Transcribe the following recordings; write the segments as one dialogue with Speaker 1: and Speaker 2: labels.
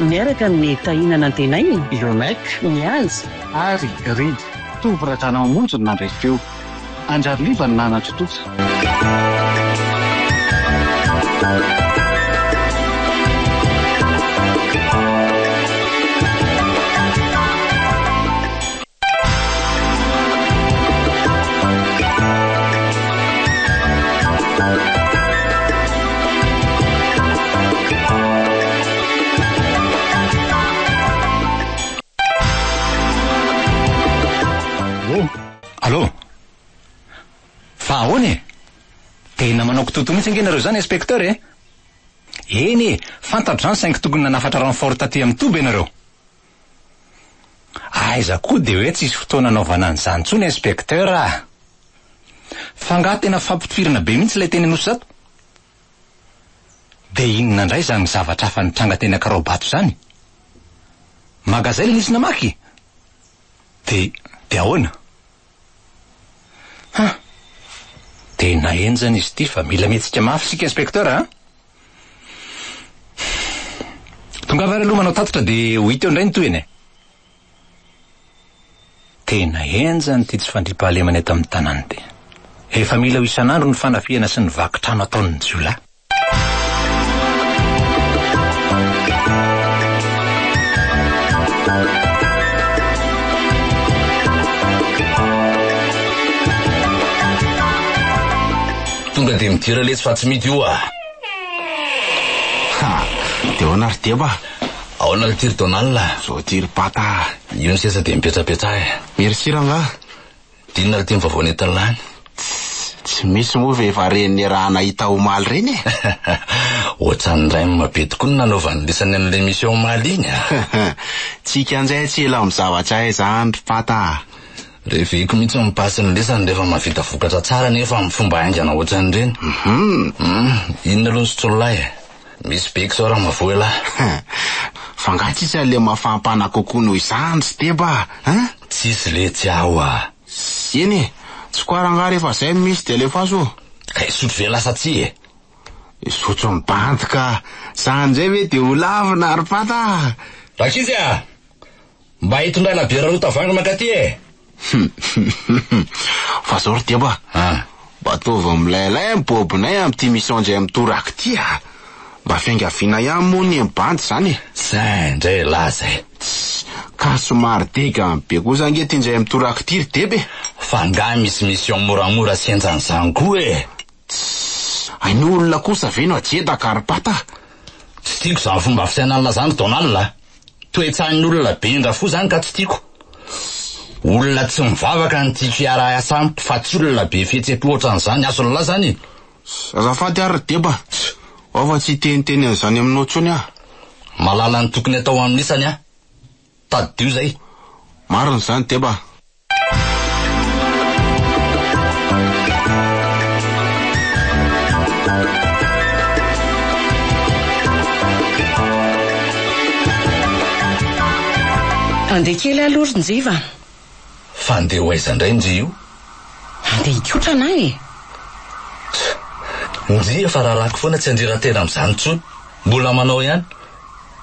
Speaker 1: miaraka amin'ny
Speaker 2: Tahina Nantenaina, Yoneck,
Speaker 1: Mihaja,
Speaker 2: ary Read,
Speaker 1: Tovo Radranamonjy no nandray feo. Andriary Liva no nanatontosa.
Speaker 3: Toto mihitsy ange nareo zany inspecteur e. Eny e, fantatra zany saingy tokony nanafatra renfort taty amin'ny toby ianareo. Aiza koa dia hoe tsisy fotoana anaovana an'izany intsony inspecteur ah! Fa angaha tena fampitifirana be mihitsy ilay teny Anosy Zato? Dia inona indray izany zavatra hafa nitranga teny Ankaraobato izany? Magazay ilay nisy namaky? Dia dia ahoana? Huh! Tena henjana izy ity fa mila mihetsika mafy isika inspecteur ah! Tongava ary aloha manao tatitra dia ho hita eo indray ny tohiny e! Tena henjana ity tsy fandriampahalemana eto amin'ny tanàna ity. Efa mila ho isan'andro ny fanafihana sy ny vaky trano ataon'ny jiolahy.
Speaker 4: Tonga dia midera letsy fa tsy mity oa. Ha!
Speaker 5: Dia ahoana ry Deba? Aona ry Tiry
Speaker 4: Donald? Zao ity ry Pata
Speaker 5: a! Io ny seza dia
Speaker 4: mipetsapetsaha e! Merci rangaha!
Speaker 5: Dia
Speaker 4: inona ry Tim vaovao nentin'i Lany? Tss! Tsy
Speaker 5: misy moa ve efa reny ny raha nahita omaly reny e! Ohatran'ny
Speaker 4: rem be tokoa no nanaovan'i Lisany an'ilay mission omaly iny a! Tsy hikanjay
Speaker 5: tsy ela amin'ny zavatra hay izany ry Pata a! Reveko
Speaker 4: mihitsy ny passe ny lesany rehefa mahavita vokatra tsara nefa amin'ny fomba haingana ohatran'ireny. Hum! Inona aloha ny sotsolonahy e? Misy be k'izao raha mavoa elah. Fa
Speaker 5: nga tsisy an'le mafampana kokoa noho izany ry Steba a? Tsisy
Speaker 4: letsy aho a! Eny e!
Speaker 5: Tsy koara nga rehefa zay misy dia alefaso ô! Ka hisotro ve
Speaker 4: lasa tsy e? Hisotro
Speaker 5: ny bandy ka! Sa an'izay ve dia ho lavina ry Pata a! Rankizy a!
Speaker 4: Mba hitondrana bière roa tavoahangy mankaty e! Hum-hum-hum-hum.
Speaker 5: Fa zao ry Deba a! Ah. Mba ataovy milailay ny bôbinay amin'ity mission indray mitoraka ity a! Mba fiangaviana ihany moa ny eny bandy izany e! Zay indray e lahy
Speaker 4: zay! Tssy! Ka
Speaker 5: somary degany be kosa ange ity indray mitoraka ity ry Deba e! Fa angaha misy
Speaker 4: mission moramora sy henjan'izany koa e! Tssy!
Speaker 5: Hainao olona kosa ve no ajedaka ry Pata a! Tsy tiako
Speaker 4: izany fomba fisainan'la zany ry Donald a! Toetsain'olona be ndra fo zany ka tsy tiako. Olona tsy mivavaka no tiako hiara-hiasa amiko fa tsy olona be fihetsem-po ohatran'izany, hason'lah zany e. Azafady
Speaker 5: ary Deba, ao fa tsy hiteniteny an'izany aminao intsony aho. Mahalala ny
Speaker 4: tokony atao amin'isany aho. Tadidio izay. Marina izany
Speaker 5: Deba.
Speaker 2: Handeha kely aloha ry Njiva a! Fa
Speaker 4: handeha ho aiza indray Njy io? Handeha
Speaker 2: hikotrana aho e! Tch!
Speaker 4: Njy efa rarako foana tsy handrera-tena amin'izany intsony, mbola manao ihany.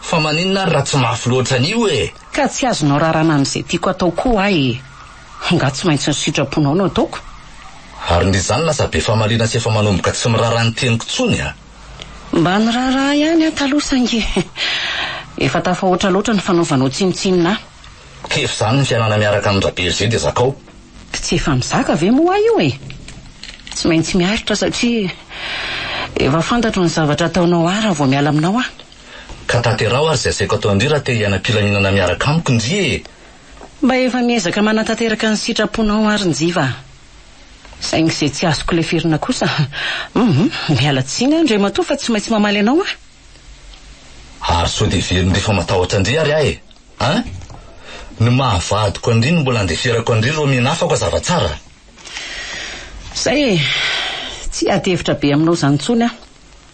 Speaker 4: Fa maninona ary raha tsy mafy loatra an'io e! Ka tsy azonao rarana
Speaker 2: amin'izay tiako atao koa aho e! Angaha tsy maintsy ny sitraponao no ataoko? Ary ndry
Speaker 4: izany lasa be famaliana sy efa manomboka tsy miraharaha ny teniko intsony a! Mba
Speaker 2: niraharaha ihany aho taloha saingy efa tafahoatra loatra ny fanaovanao tsinontsinona ahy. Kivy izany
Speaker 4: ny fiainana miaraka amin-dRabergé dia zakao. Tsy efa
Speaker 2: mizaka ve moa aho io e! Tsy maintsy miaritra satria efa fantatro ny zavatra ataonao ahy raha vao miala aminao aho. Ka tanteraho
Speaker 4: ary izay asaiko atao ndry raha te hiaina am-pilaminana miaraka amiko ndry e! Mba efa
Speaker 2: miezaka manatanteraka ny sitraponao ary Njiva a! Saingy izay tsy azoko leferina kosa, hum! Miala tsiny aho ndry matoa fa tsy maintsy mamaly anao aho! Ary sao dia very
Speaker 4: ndry fa matahotra ndry ary aho e! An! Ny maha vadiko an-dry no mbola andeferako an-dry ireo miana hafa koa zava tsara!
Speaker 2: Zay e! Tsy hiady hevitra be aminao izany intsony aho!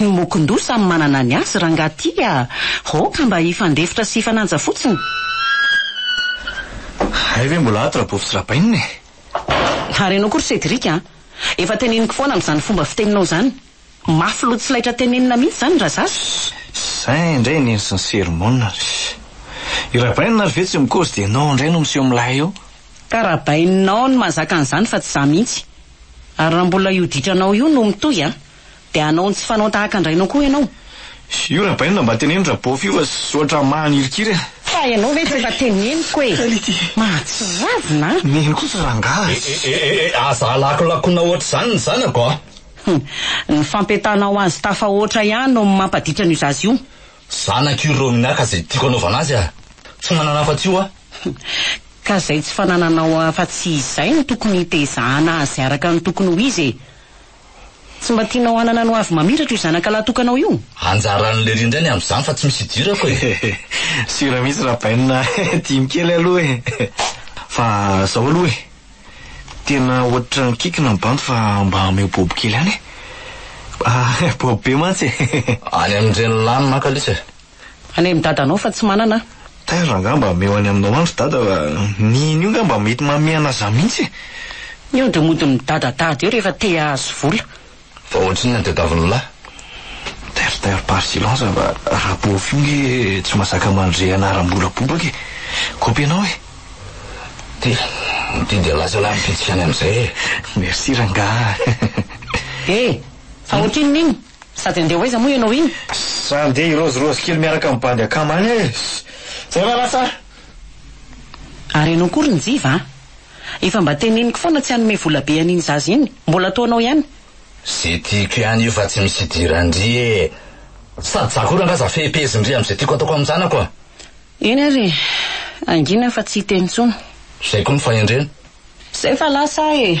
Speaker 4: Ny mokon-doha samy
Speaker 2: manana ny azy rangaha ty a! Hoo ka mba hifandefitra sy hifananja fotsiny!
Speaker 6: Hay ve mbola ato Rabovy sy Rabainina e! Ary
Speaker 2: ianao koa ry Cédric a! Efa teneniko foana amin'izany fomba fiteninao izany! Mafy loha tsy laitra tenenina mihitsy izany raha zaza! Izay indray
Speaker 6: neny sy ny sermona ry! I Rabainina ary ve tsy mikozy dia ianao indray no miseho milay eo? Ka Rabaininao
Speaker 2: no mahazaka an'izany fa tsy za mihitsy! Ary raha mbola io ditranao io no mitohy a! Dia hanao ny tsy fanao tahaka an-drainao koa ianao. Io rabaina
Speaker 6: mba teneno rabof io fa zotra mahanirikiry a. Fa ianao ve tsy
Speaker 2: efa teneniko e. Kality. Mahatsiravina a. Neny kosa
Speaker 6: rangaha a. Eh eh eh eh aza
Speaker 4: alakolakona ohatr'izany ny zanako a. Hum.
Speaker 2: Ny fampientanao azy tafahoatra ihany no mampaditra an'io zaza io. Zanako io
Speaker 4: Romina ka izay tiako anaovana azy aho. Tsy manana afa-tsy io aho. Hum. Ka
Speaker 2: izay tsy fanananao afa-tsy izay no tokony hitezahana azy araka ny tokony ho izy e. Tsy mba tianao hanana ny hoavy mamiratra io zanakalahy tokanao io? Anjaran'i Lery indray
Speaker 4: ny amin'izany fa tsy misy idirako e! Sûr
Speaker 6: mihitsy Rabaina dimy kely aloha e! Fa zao aloha e! Tena ohatran'ny kikina ny bandy fa mba ameo bobo kely ihany e! Bobo be mantsy e! Any amin'ireny
Speaker 4: lanona an-kalisa e! Anay amin'ny
Speaker 2: dadanao fa tsy manana aho. Taiza angaha mba
Speaker 6: hameo any aminao any ry dada fa ny iny io angaha mba mety mameana zah mihitsy e! Ny ody
Speaker 2: mody midadadada eo rehefa te hahazo vola. Fa ohatry inona
Speaker 4: ny tadiavin'ny lahy? Taire
Speaker 6: taire par silence fa Rapof io nge tsy mazaka mandre anaram-bola bobaka e! Kôpy anao e! Ty,
Speaker 4: ty dia lasa lahy ny fihetsika any amin'izay e! Merci rangaha.
Speaker 6: He!
Speaker 2: Fa ohatrinona iny? Sady andeha ho aiza moa ianao iny? Ssss andeha
Speaker 6: hirozirozy kely miaraka amin'ny bandy akama any aho e! Ssss zay va lasa a!
Speaker 2: Ary ianao koa ry Njiva a! Efa mba teneniko foana tsy hanome vola be an'iny zaza iny, mbola ataonao ihany! Ze tiako
Speaker 4: ihany io fa tsy misy idiran-dry e! Sady za koa rangahy za fehim-pehezin-dry amin'izay tiako ataoko amin'ny zanako a! Eny ary e!
Speaker 2: Hangina fa tsy hiteny intsony! Zay koa ny fahendrena!
Speaker 4: Zay fa
Speaker 2: lasa aho e!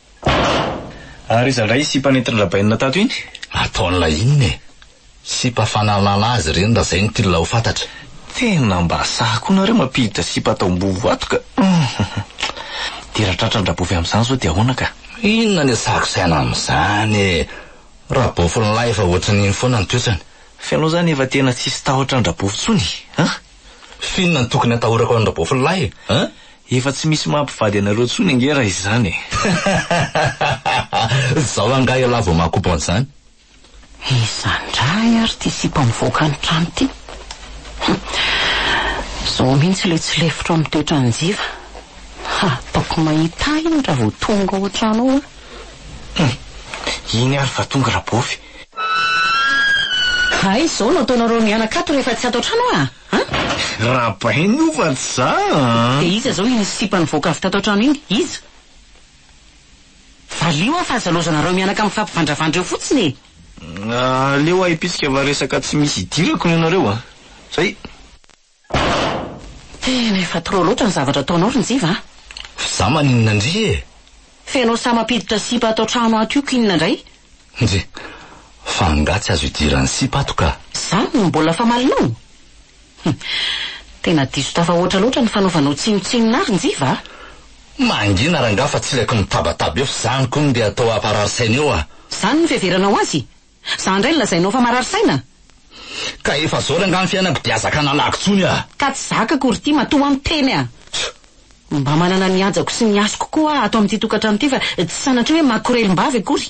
Speaker 6: Ary iza indray io sipa nentin-dRabainina tato iny? Ataon'ilay inona
Speaker 4: e? Sipa fanalana azy ireny raha izay no tian'ilay ho fantatra. Tena mba
Speaker 6: sahy koa nareo mampiditra sipa atao am-boho ato ka! Dia raha tratran-dRabofy amin'izany izao dia ahoana ka? Inona ny asako
Speaker 4: saina amin'izany e! Rabofy lahy efa ohatran'iny foana ny toetrany. Fa ianao izany efa
Speaker 6: tena tsisy tahotra an-dRabofy intsony an!
Speaker 4: F'inona no tokony atahorako an'i Rabofinolahy e? An? Efa tsy
Speaker 6: misy maha mpivady anareo intsony ange raha izany e!
Speaker 4: Zao angaha ialahy vao maha-couple an'izany? Iza indray
Speaker 2: ary ity sipa mivoaka ny trano ity? Hum. Zao mihitsy ilay tsy lefitro amin'ny toetran'i Njiva. Hataoko mahita ahy iny raha vao tonga ao an-trano ao an! Hum.
Speaker 6: Iny ary fa tonga Rabofy.
Speaker 2: Hay izao no ataonareo mianaka ato rehefa tsy ato an-trano aho a! An?
Speaker 6: Rabainy io fa tsy za a! Dia iza izao
Speaker 2: iny sipa nivoaka avy tato an-trano iny? Iza? Valio aho fa aza laozanareo mianaka mifampivandravandra eo fotsiny e! Aleo
Speaker 6: ahipitsika fa resaka tsy misy idirako no ianareo a! Zay!
Speaker 2: Tena efa trop loatra ny zavatra ataonao ry Njiva a! F'za maninona
Speaker 4: ndry e! F'enao sahy
Speaker 2: mampiditra sipa ato trano ato io k'inona ndray? Ndry!
Speaker 4: Fa angaha tsy azo idiran'ny sipa ato ka! Zany no mbola
Speaker 2: famalinao? Hum! Tena diso tafahoatra loatra ny fanaovanao tsinontsinona ahy ry Njiva a! Mangina
Speaker 4: rangaha fa tsy ilaiko mitabataba eo f'zany kony ndeha atao haparary saina eo a! Zany no fiheveranao
Speaker 2: azy? Za ndray no lazainao fa marary saina? Ka
Speaker 4: efa zao rangah ny fiainako dia azaka nalago tsony ah. Ka tsy zaka akory
Speaker 2: ity matoa an teny ah. Mba manana ny hajako sy ny hasiko koa ah ato amin'ity tokantrano ity fa tsy sanatria hoe makorelim-bavy akory.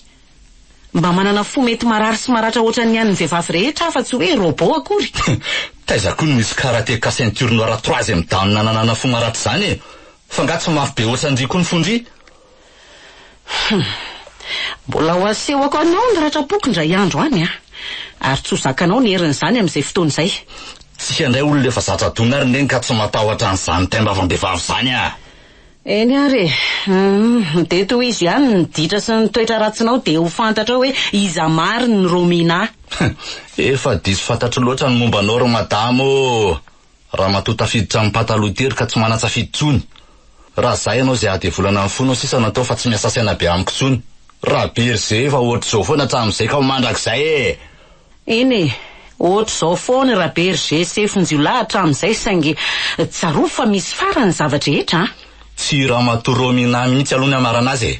Speaker 2: Mba manana fo mety marary sy maratra ohatran'ny an'ny vehivavy rehetra ah fa tsy hoe robot akory. Taiza koa no
Speaker 4: misy karateka ceinture noire troisième dan nananana fo maratra izany e. Fa ngah tsy mafy be ohatran'ndry koa ny fon-dry? Hum.
Speaker 2: Mbola ho asehoko anao ny ratram-poko indray andro any an! Ary tsy ho zakanao ny herin'izany amin'izay fotoana izay. Tsika
Speaker 4: indray olona efa zatra adona ary neny ka tsy matahotra an'izany taim-bavam-behivavy izany aho. Eny
Speaker 2: ary e. Hum. Dia tohizo ihany ny ditra sy ny toetra ratsinao dia ho fantatrao hoe iza marina i Romina. Hum. Efa
Speaker 4: diso fantatro loatra ny momba anao ry madama ô! Ramatoa tafiditra am pataloha tery ka tsy manatsafidy tsony. Ra zay anao zay adevolana ny fonao sisa no atao fa tsy miasa saina be amiko tsony. Ra be ry zee efa ohatry zao foana hatram zay ka ho mandrakizay ee. Eny e,
Speaker 2: ohatry zao foana ra be ry zee sefo njiolahy hatram zay saingy tsarovy fa misy farany ny zava drehetra a. Tsy i ramatoa
Speaker 4: Romina mihitsy aloha ny anarana azy e.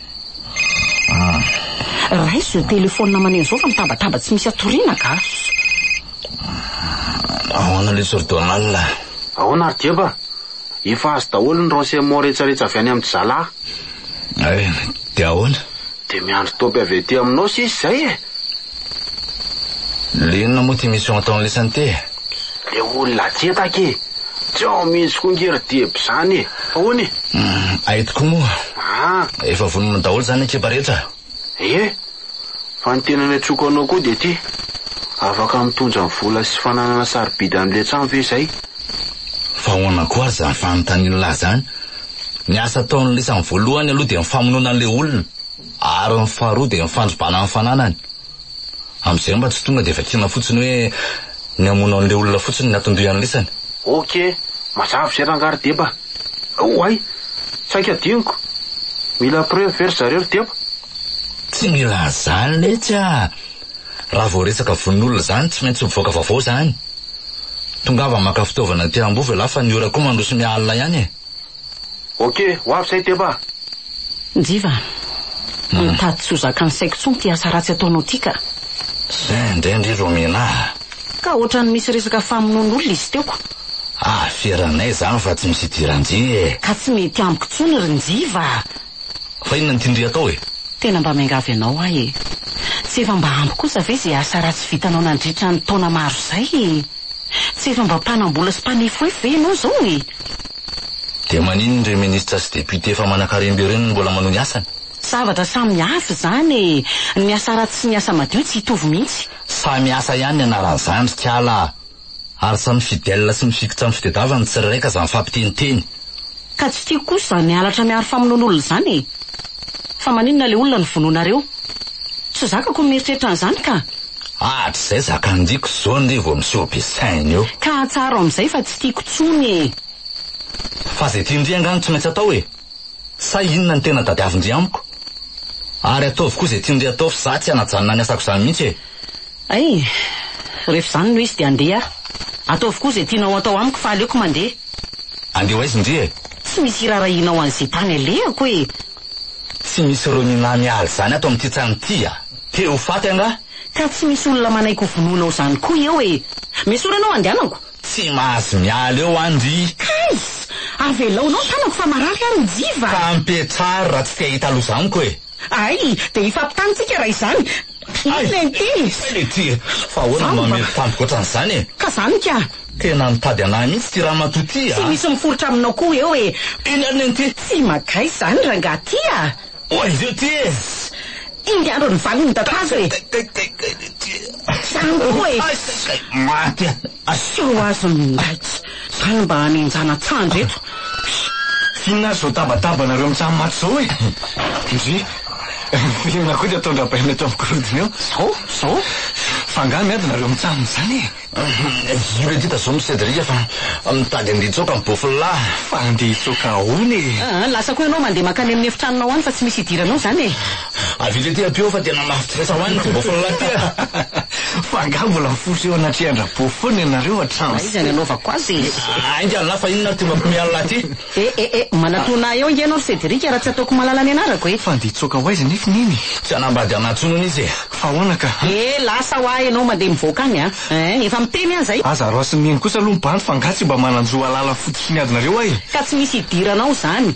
Speaker 2: Raiso izay telefaonina aman'aina izao fa mitabataba tsy misy atoriana ka.
Speaker 4: Ahoana le Sir Donald? Ahoana ry
Speaker 5: Jeba? Efa azo daholo ny renseignements rehetrarehetra avy any amin'i Zalahy. Hay,
Speaker 4: dia ahoana? Dia miandry topy
Speaker 5: avy aty aminao sisa izay e!
Speaker 4: Le inona moa ty mission ataon'le santé e? Le
Speaker 5: olona ajetaka e! Tsy ao mihitsy koa nge ry Deby zany e! Ahoana e? Uhm, ay tokoa
Speaker 4: moa. Aa! Efa vonona daholo zany ekipa rehetra? Ie!
Speaker 5: Fa ny tena niantsoako anao koa dia ty, afaka mitondra ny vola sy fananana sarobidy an'le trano ve zay? Fa
Speaker 4: ahoana koa ary zany fanontanian'lah zany? Ny asa ataon'le samy voalohany aloha dia ny famonoana an'le olona. ary ny faharoa dia ny fandrobana ny fananany, amin'izay mba tsy tonga dia vakiana fotsiny hoe ny hamono an'ilay olona fotsiny ny aton-doha ianlisany. Ok,
Speaker 5: mazava izay rangahy ry Deba. Oay! Saika adinoko. Mila preuve ve ry zareo ry Deba? Tsy
Speaker 4: mila an'izany letsy a! Raha vao resaka vononolona izany tsy maintsy mivoaka vaovao izany. Tongava maka fitaovana aty Ambohivo ialahy fa ny ora koa mandroso miha alina ihany e! Ok,
Speaker 5: ho avy izay Deba! Njiva,
Speaker 2: mitady tsy ho zakan'ny saiko intsony ity asa ratsy ataonao ity ka! Zay indray
Speaker 4: ndry ro omena ahy! Ka ohatran'ny
Speaker 2: misy resaka famonoan'olona izy teo ko! Aferanay
Speaker 4: izany fa tsy misy idiran-je e! Ka tsy mety amiko intsony
Speaker 2: ry Njiva a! Fa inona
Speaker 4: no tian-dry atao e? Tena mba miangavy
Speaker 2: anao aho e! Tsy efa mba ampy kosa ve izay asa ratsy vitanao nandritra ny taona maro izay e! Tsy efa mba mpanam-bola sy mpanefoefo ve ianao izao e!
Speaker 4: Dia maninona ireo ministra sy député efa manakarem-be ireo no mbola manohy ny asany? Zavatra samy
Speaker 2: hafa izany e! Ny asa ratsy sy ny asa madio tsy hitovy mihitsy. Samy asa ihany
Speaker 4: ny anaran'ny zandrika ala a! Ary samy fidèle sy mifikitra amin'ny fitedavany ny tsirairay ka aza mifampiteniteny. Ka tsy
Speaker 2: tiako kosa izany halatra miharo famonoan'olona izany e! Fa maninona ilay olona no vonoinareo? Tsy zakako ny mieritreritra an'izany ka! Hatrizay
Speaker 4: zakan-diko zao ndry vao miseho be saina eo. Ka hatsaro amzay fa
Speaker 2: tsy tiako tsony e. Fa
Speaker 4: zay tian-dry angaha no tsy maintsy atao e. Sa inona ny tena tadiavin-dry amiko? Ary ataovy koa zay tian-dry atao fa za tsy hanajanona ny asako zany mihitsy e. Ay,
Speaker 2: ref zany no izy de andeha aho. Ataovy koa zay tianao atao amiko fa aleoko mandeha. Andeho aiza
Speaker 4: ndry e? Tsy misy irarahianao
Speaker 2: anze tany alehako e. Tsy
Speaker 4: misy Roninah miala izany ato amin'ity trano ity a! Te ho faty angaha? Ka tsy misy olona
Speaker 2: manaiky ho vonoinao izany koa eo e! Misaora anao andehanako! Tsy mahazo
Speaker 4: miala eo an ry. Kais!
Speaker 2: Avelaonao ny tanako fa marary aho ry Jiva! Ka ampiatraro
Speaker 4: raha tsy te hahita loza amiko e! Ay! Dia
Speaker 2: hifampitany tsika raha izany! Hay! Inona ity? Hay le ty!
Speaker 4: Fa ahoana no mamely tampoka ohatran'izany e? Ka zany ka!
Speaker 2: Tena mitady
Speaker 4: an'ahy mihitsy ity ramatoa ity a! Tsy misy miforitra aminao koa
Speaker 2: eo e! Eny ary neny ty! Tsy
Speaker 4: magahy izany
Speaker 2: rangaha ty a! Oa izy io ty
Speaker 4: e! Iny andro
Speaker 2: ny valin'ny dadazo e! Kay kay kay kay le ty! Zany koa e! Hay kay kay! Maty
Speaker 4: aho! Asao
Speaker 2: azy ny ndraiky! Zany mba hanenjana tsandry eto. Pss! Inona
Speaker 6: ary zao tabataba nareo mijaly maty zao e? Ndry! Inona koa ity ataon-dRabaina eto amin'ny gorodona eo? Zao? Zao? Fa angaha miady nareo mijanona izany e? Io re
Speaker 4: Dida zao misedria fa mitady andeha hitsoaka ny bofla. Fa andeha hitsoaka
Speaker 6: ahoana e? Aa lasa koa ianao mandeha mankany
Speaker 2: amin'ny efitranonao any fa tsy misy hidiranao izany e? Avy eto aty ampio
Speaker 4: aho fa tena mahafinaritra ho ahy ny bôfla laty a! Fa angaha mbola
Speaker 6: mifosa eo anatrehan-dRabôfy foana ianareo hatramin'izay? Aiza ny anaovako azy e!
Speaker 2: Ainga an'la fa
Speaker 4: inona ary tonga mpiomehy an'la aty? E e e! Manatòna
Speaker 2: ahy eo ange ianao ry Cédric raha tsy ataoko malala ny anarako e! Fa andeha hitsoaka ho aiza anefa
Speaker 6: i Neny e? Tsy hanambady an'ahy intsony
Speaker 4: hono izy e! Fa ahoana ka? E!
Speaker 6: Lasa ho ahy ianao
Speaker 2: mandeha mivoaka any a! Ein! Efa miteny aho izay! Aza araosin'i Neny kosa
Speaker 6: aloha ny bandy fa angaha tsy mba manan-jo
Speaker 2: hahalala
Speaker 6: fototr'iniadinareo ahy e! Ka tsy
Speaker 2: misy
Speaker 6: idiranao izany?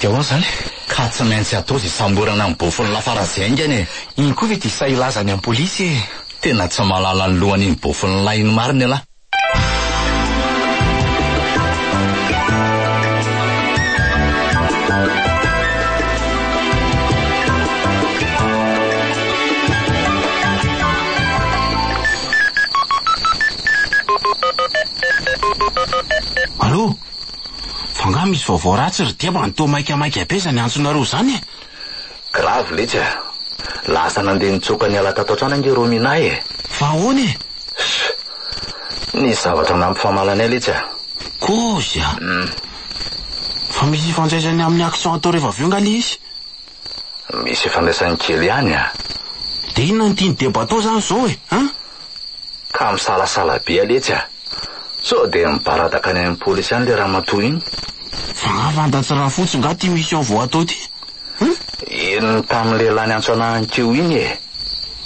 Speaker 6: Dia ahoana izany e? Ka tsy maintsy
Speaker 4: atao izay samborana ny bofon lafaratsy haingana e! Iny koa ve dia sahy hilaza
Speaker 6: any am polisy e! Tena tsy mahalala
Speaker 4: ny lohan iny bofon lahy iny marina ialahy.
Speaker 5: Allô? Fa nga misy vaovao ratsy ry dia mba toa maikamaika be zany antsonareo izany e! Grave
Speaker 4: letsy a! Lasa nandeha nitsoaka niala tato an-trano ange Rominah e! Fa ahoana e?
Speaker 5: Ssy!
Speaker 4: Nisy zavatra nampifamaly anay letsy a! Kozy a!
Speaker 5: Umm. Fa misy ifandraisany amin'ny accent atao rehefa avy eo nga le izy? Misy
Speaker 4: ifandraisany kely ihany a! Dia inona no
Speaker 5: tian'i Debato izany izao e? An? Ka
Speaker 4: misalasala be aletsy a! Sao dia mibaradaka any amin'ny polisy any ilay ramatoa iny? Fa nga
Speaker 5: fantatsy rafotsy nga ty mission vao atao ty? An? Iny
Speaker 4: tamin'ny lehilahy niantso anah any teo iny e!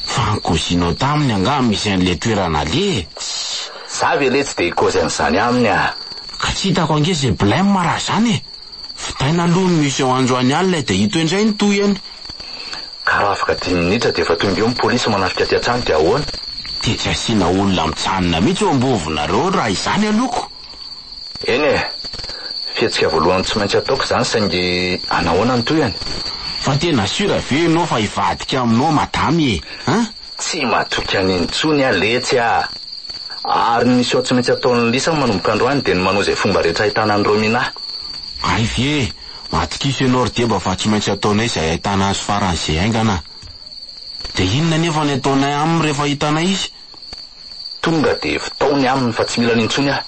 Speaker 4: Fa ny
Speaker 5: kozinao taminy angaha misy an'ilay toerana aleha e? Tssy! Za ve
Speaker 4: letsy dia hikaozy an'izany aminy a! Ka tsy hitako ange
Speaker 5: izay blem raha izany e! Vitaina aloha ny mission androany alina dia hitohy indray ny tohiny. Ka
Speaker 4: raha afaka dimy minitra dia efa tonga eo ny polisy manafika aty an-tsany dia ahoana? Dia tsy asiana
Speaker 5: olona mitsanona mihitsy eo am-bovonareo raha izany aloako. Eny e!
Speaker 4: Fihetsika voalohany tsy maintsy ataoko izany saingy anahoana ny tohiny? Fa tena
Speaker 5: sûr ve ianao fa hivadika aminao madame e? An? Tsy matoky
Speaker 4: an'i intsony aho letsy a! Ary ny miseho tsy maintsy ataon'i lisa manomboka androany dia ny manao izay fomba rehetra ahitana an'i romina. Ay ve!
Speaker 5: Atokisa ianao ry deba fa tsy maintsy ataonay izay ahitana azy farany izay haingana a! Dia inona anefa ny ataonay aminy rehefa hitanay izy? Tonga
Speaker 4: dia vtao ny aminy fa tsy mila ny intsony aho.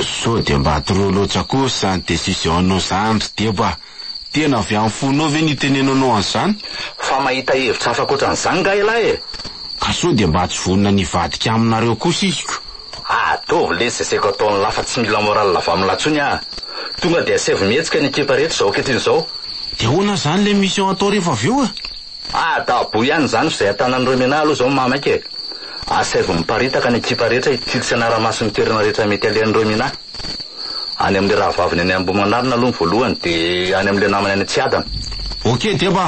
Speaker 4: Sao
Speaker 5: dia mba trop loatra kosa ny decision-nao izany ry deba! Tena avy amin'ny fonao ve ny itenenanao an'izany? Fa mahita
Speaker 4: hevitra hafa ankoatran'izany nga ialahy e! Ka sao dia mba
Speaker 5: tsy vonona ny hivadika aminareo kosa iziko? Ataovy
Speaker 4: lesy izay saiko ataon'lah fa tsy mila morale avy amin'lah tsony ah! Tonga dia asaivo mihetsika ny ekipa rehetra izao ankehitriny izao. De ahoana izany
Speaker 5: ilay mission hatao rehefa avy eo e? Adabo ihany izany
Speaker 4: f'izay atanan'ireo menaha aloha izao maha maika e! Asaivo miparitaka ny ekipa rehetra hitily sy hanara-maso ny toerana rehetra mety alehan'ireo menaha. Any amin'ilay rahavaviny any Ambohimanarina aloha ny voalohany dia any amin'ilay namany any Tsiadana. Ok deba.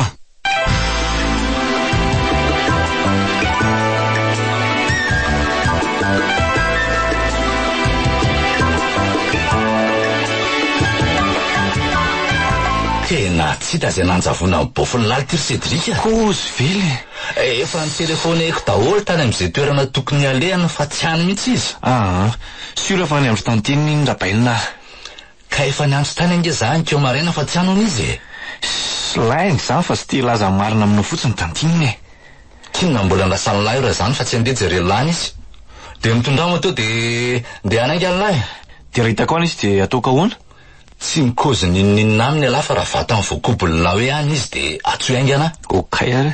Speaker 4: Tena tsy hita izay nanjavona amin'ny boffin'ny lalitra ry Cédric a! Kozy ve le?
Speaker 5: Efa
Speaker 4: notelefaoneko daholo tany amin'izay toerana tokony halehany fa tsy any mihitsy izy. Aa. Sûr
Speaker 6: fa any andro tantiany iny Rabainina ah. Ka efa
Speaker 4: niantso tany ange za ankeo maraina fa tsy any hono izy e. Sy lainga
Speaker 6: izany fa tsy te hilaza ny marina aminao fotsiny tantiany iny e. K'inona mbola
Speaker 4: andrasan'i lahy raha izany fa tsy andeha jereo lahy mihitsy. Dia mitondrao moto dia ndeha hanaiky an'i lahy. Dia raha hitako any
Speaker 6: izy dia ataoko ahoana? Tsy mi-cause
Speaker 4: n'inon'inona aminy ialahy fa raha vatany voakobon'ny lahy hoe any izy dia atsoy haingana. Ok ary.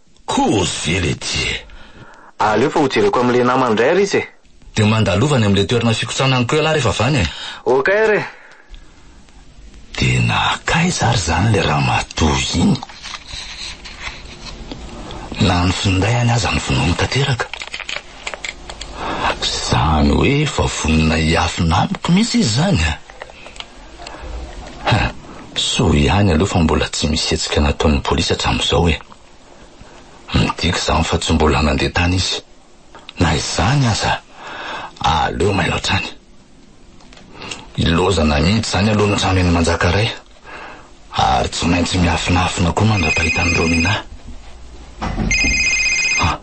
Speaker 6: Kozy
Speaker 4: le ty e! Aleo
Speaker 6: fa hojereko amin'ilay namany indray ary izy e! Dia mandalova any
Speaker 4: amin'ilay toerana fikotsanany koa ialahy rehefa avy any e! Ok ary e!
Speaker 6: Dia
Speaker 4: nankaiza ary izany ilay ramatoa iny? Na ny findahiny aza novonoiny tanteraka. Izany hoe efa vonona hiafina amiko mihitsy izy izany a! Ha! Soa ihany aloha fa mbola tsy misy hetsika nataon'ny polisy hatramin'izao e! Midika izany fa tsy mbola nandeha tany izy. Na izany aza, aleo mailo hatrany. Ilaozana mihitsy izany aloha ny trano eny Manjakaray, ary tsy maintsy miafinafina koa mandra-pahita an'i Romina. Ha!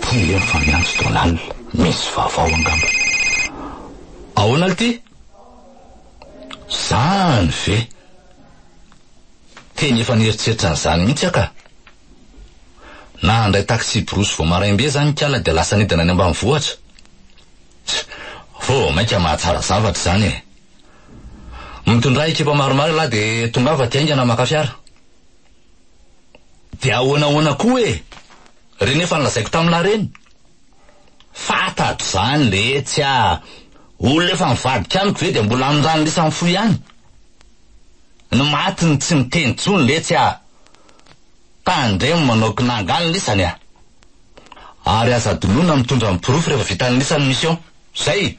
Speaker 4: Tia efa miantso Donald, misy vaovao angamba. Ahoana lty? Zany ve? Teny efa nieritreritra an'izany mihitsy aho ka. Nahandray taxi-brousse vao maraim-be zany nikala dia lasa nidina any ambanivohitra. Tch! Vao mainka mahatsara zavatra izany e! Mitondrà ekipa maromaro ialahy dia tongava aty haingana maka fiara. Dia ahoana ahoana koa e! Re nefa ny lazaiko tamin'lah reny! Fantatro zany letsy a! Olona efa nivadika amiko ve dia mbola amin'ny rano lisany fo ihany? Ny maty no tsy miteny tsony letsy a! Tandremo manao kinanga ny lisany a! Ary aza adinoina mitondra ny porofo rehefa vita ny lisany mission. Zay!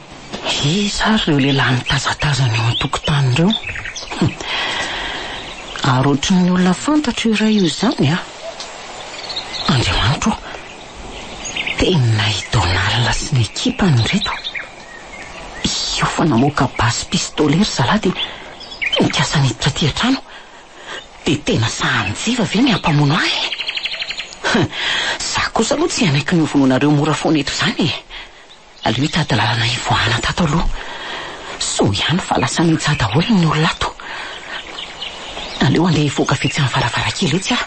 Speaker 2: Iza ary ireo lehilahy mitazatazana eo an-tokotany ireo? Hum. Ary ohatry ny olona fantatro io iray io izany an! Andriamanitro ô! Tena i Donald sy ny ekipany ireto. Io fa namoaka basy pistolet ry zalahy dia nikasa niditra aty an-trano. Dia tena sahanin-jiva ve ny hampamono ahy e? Hum. Izaho kosa aloha tsy hanaiky ny hovonoinareo mora foana eto izany e! Aleo hitady lalana hivoahana tato aloha. Soa ihany fa lasa nintsaha daholo ny olona ato. Aleo handeha hivoaka vitsy amin'ny varavarankely etsy aho.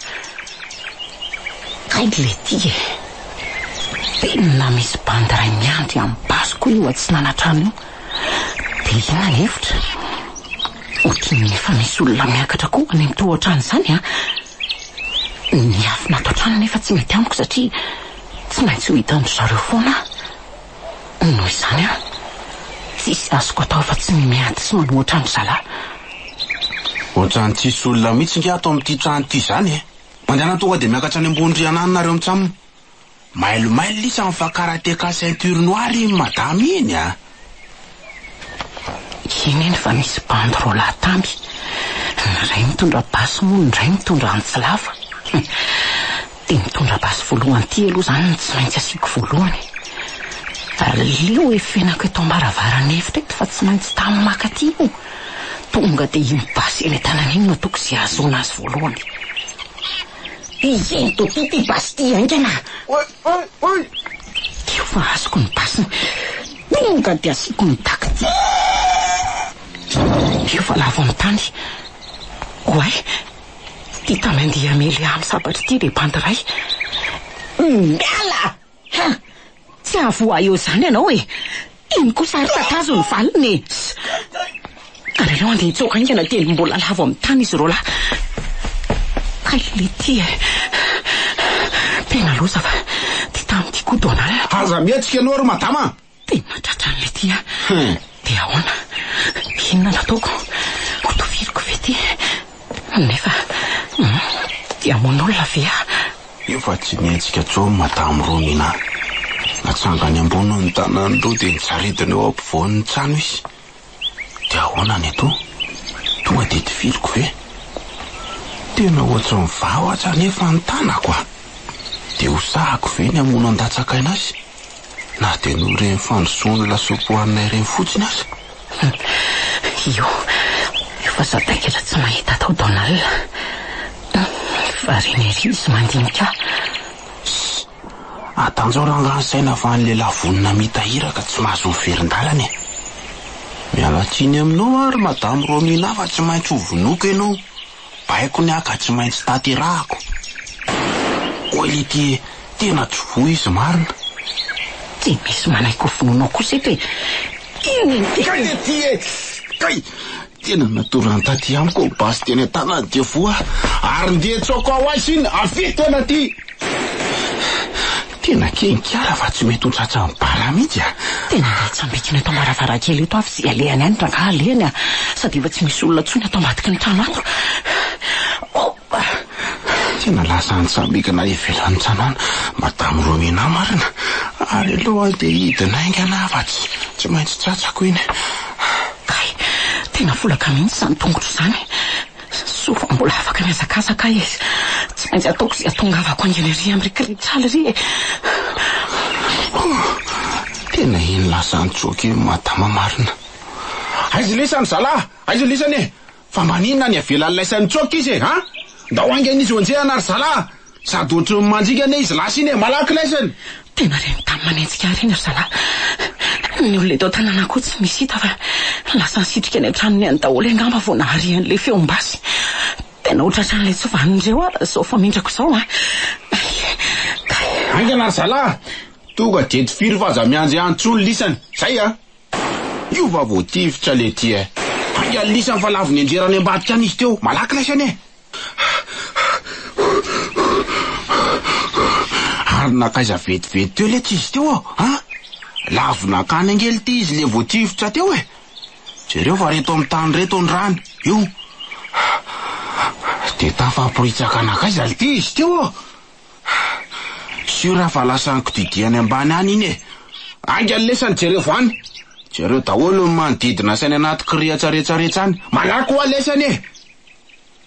Speaker 2: Kay Letty e! Tena misy bandy iray miandry amin'ny basiko io atsinana trano io. Dia inona ny hevitra? Ohatry ny efa misy olona miakatra koa any amin'ny tohotrano izany an! Ny afona ato an-trano anefa tsy mety amiko satria. Tsy maintsy ho hitan-dry zareo foana aho. Noho izany an, tsisy azoko atao afa-tsy ny miady sy manoatra an-dry zalahy.
Speaker 5: Ohatran'ny tsisy olona mihitsy nga ato amin'ity trano ity izany e! Mandehana tonga dia miakatra any ambony rihana any nareo mitsam. Mailo mailo lisa ny fakara TK ceinture noire iny madama iny a!
Speaker 2: Eny eny fa misy bandy roa lahy tamby, ny iray mitondra basy moa ny iray mitondra antsy lava. Dia mitondra basy voalohany ity aloha izany no tsy maintsy asiako voalohany e. Aleo hifenako eto am-baravarana efitra eto fa tsy maintsy tany maka aty io. Tonga dia iny basy eny an-tanany iny no ataoko izay hahazoana azy voalohany. Dia izay nitopy ity basy ity haingana.
Speaker 5: Teo
Speaker 2: fa azoko ny basiny. Tonga dia asiako ny daky. Teo fa lavo amin'ny tany. Oay, ity tany handeha hamely ahy amin'ny sabatra ity dia bandy iray. Miala! Tsy hahavoa ahy eo izany ianao e! Iny kosa ary tatazo ny valiny e! Sss! Ary aleo handeha hitsoaka haingana dia ny mbola lavo amin'ny tany izy roalahy. K'aleo ity e! Tena loza fa ity tamin'ity koa Donald. Aza mihetsika ianao ry
Speaker 5: madama a! Dia nahatratra an'ilay
Speaker 2: ity aho. Dia ahoana? Inona no ataoko? Ho toviriko ve ity? Nefa, hum, dia hamono olona ve aho? Eo fa tsy
Speaker 5: nihetsika intsony Madame Romina. Natsangany ambony ny tanany roa dia nisaridina eo ampovoan'ny trano izy. Dia ahoana ny atoa? Tonga dia tifiriko ve? Tena ohatry ny vava aza anefa ny tanako a! Dia hosahako ve ny hamono an-datsak'aina azy? na dia noho ireny fandrosoan'ny lasopy hohaninay ireny fotsiny aza.
Speaker 2: Io io fa sadaikatra tsy mahita atao Donald a! Variana ery izy mandinika ahy.
Speaker 5: Atanjao rangaha ny saina fa ny lehilahy vonona mitahira ka tsy mahazo miverin-dalana e! Miala tsiny aminao aho ry Madame Romina fa tsy maintsy hovonoiko ianao Baiko ny ahy ka tsy maintsy tanterahako. Hoy Lydie, Tena tsy voa izy marina. Tsy
Speaker 2: misy manaiky ho vonoinao kosa eto e! Inona iny tena?
Speaker 5: Kay Lydie e! Kay! Tena natoran'ny Tati amiko basy teny an-tanany dia voa ary nde tsaoka ho azy iny avy teny aty! Tena keny kiara fa tsy mety ho tratran'ny bara mihitsy a! Tena andeha tsy ambikina
Speaker 2: eto am-baravarankely eto aho f'izay alehany any rangaha alehany a! Sady efa tsy misy olona intsony ato ambadiky ny trano ato.
Speaker 5: Tena lasa any tsy ambikina ivelan'ny trano any Madame Romina marina ary aleo andeha hidina haingana aho fa tsy tsy maintsy tratrako iny. Kay!
Speaker 2: Tena folaka mihitsy izany tongotro izany. Soa fa mbola afaka mihazakazaka aho e! Tsy maintsy ataoko izay ahatongavako haingana ery amin'ry Kritsaly ry e!
Speaker 5: Tena eny lazan'i Joke io madama marina. Aiza lisany zalah? Aiza lisany e? Fa maninona any avelan'ny laisan'i Joke izy e? An? Ndao haingana izy ho enjehina ry zalah! Sady ohatry ny mandringa anie izy lasa iny e, malaky laisany! Tena reny tamin'ny
Speaker 2: manenjika ahy ireny ry zalahy. Ny olona eto an-tanàna koa tsy misy hita fa lasa nisitrika ny an-tranony ihany daholo angamba vao nahare an'ilay feom-basy. Tena hotratran'ilay tsovan'ireo aho raha izao famindrako izao an! Hay! Hay!
Speaker 5: Haingana ry zalahy! Tonga dia eto firy fa aza miandry ahy intsony lisany. Izay an! Io va vao tifitra le ty e! Haingana lisany fa lavon'enjera any ambadika any izy teo, malaky laisany e! Ary nankaiza vetivety teo letsy izy teo aho a! Lavo nankany angely ity izy le vao tifitra teo e! Jereo fa reto amin'ny tany reto ny rano, io! Dia tafaporitsaka nankaiza lty izy teo aho! Sur fa lasa nikididia any ambany any iny e! Ainga ny lesany jereo any! Jereo daholo ny manodidina sy any anaty kirihatsaretsaretsa any! Malaky hoa lesany e!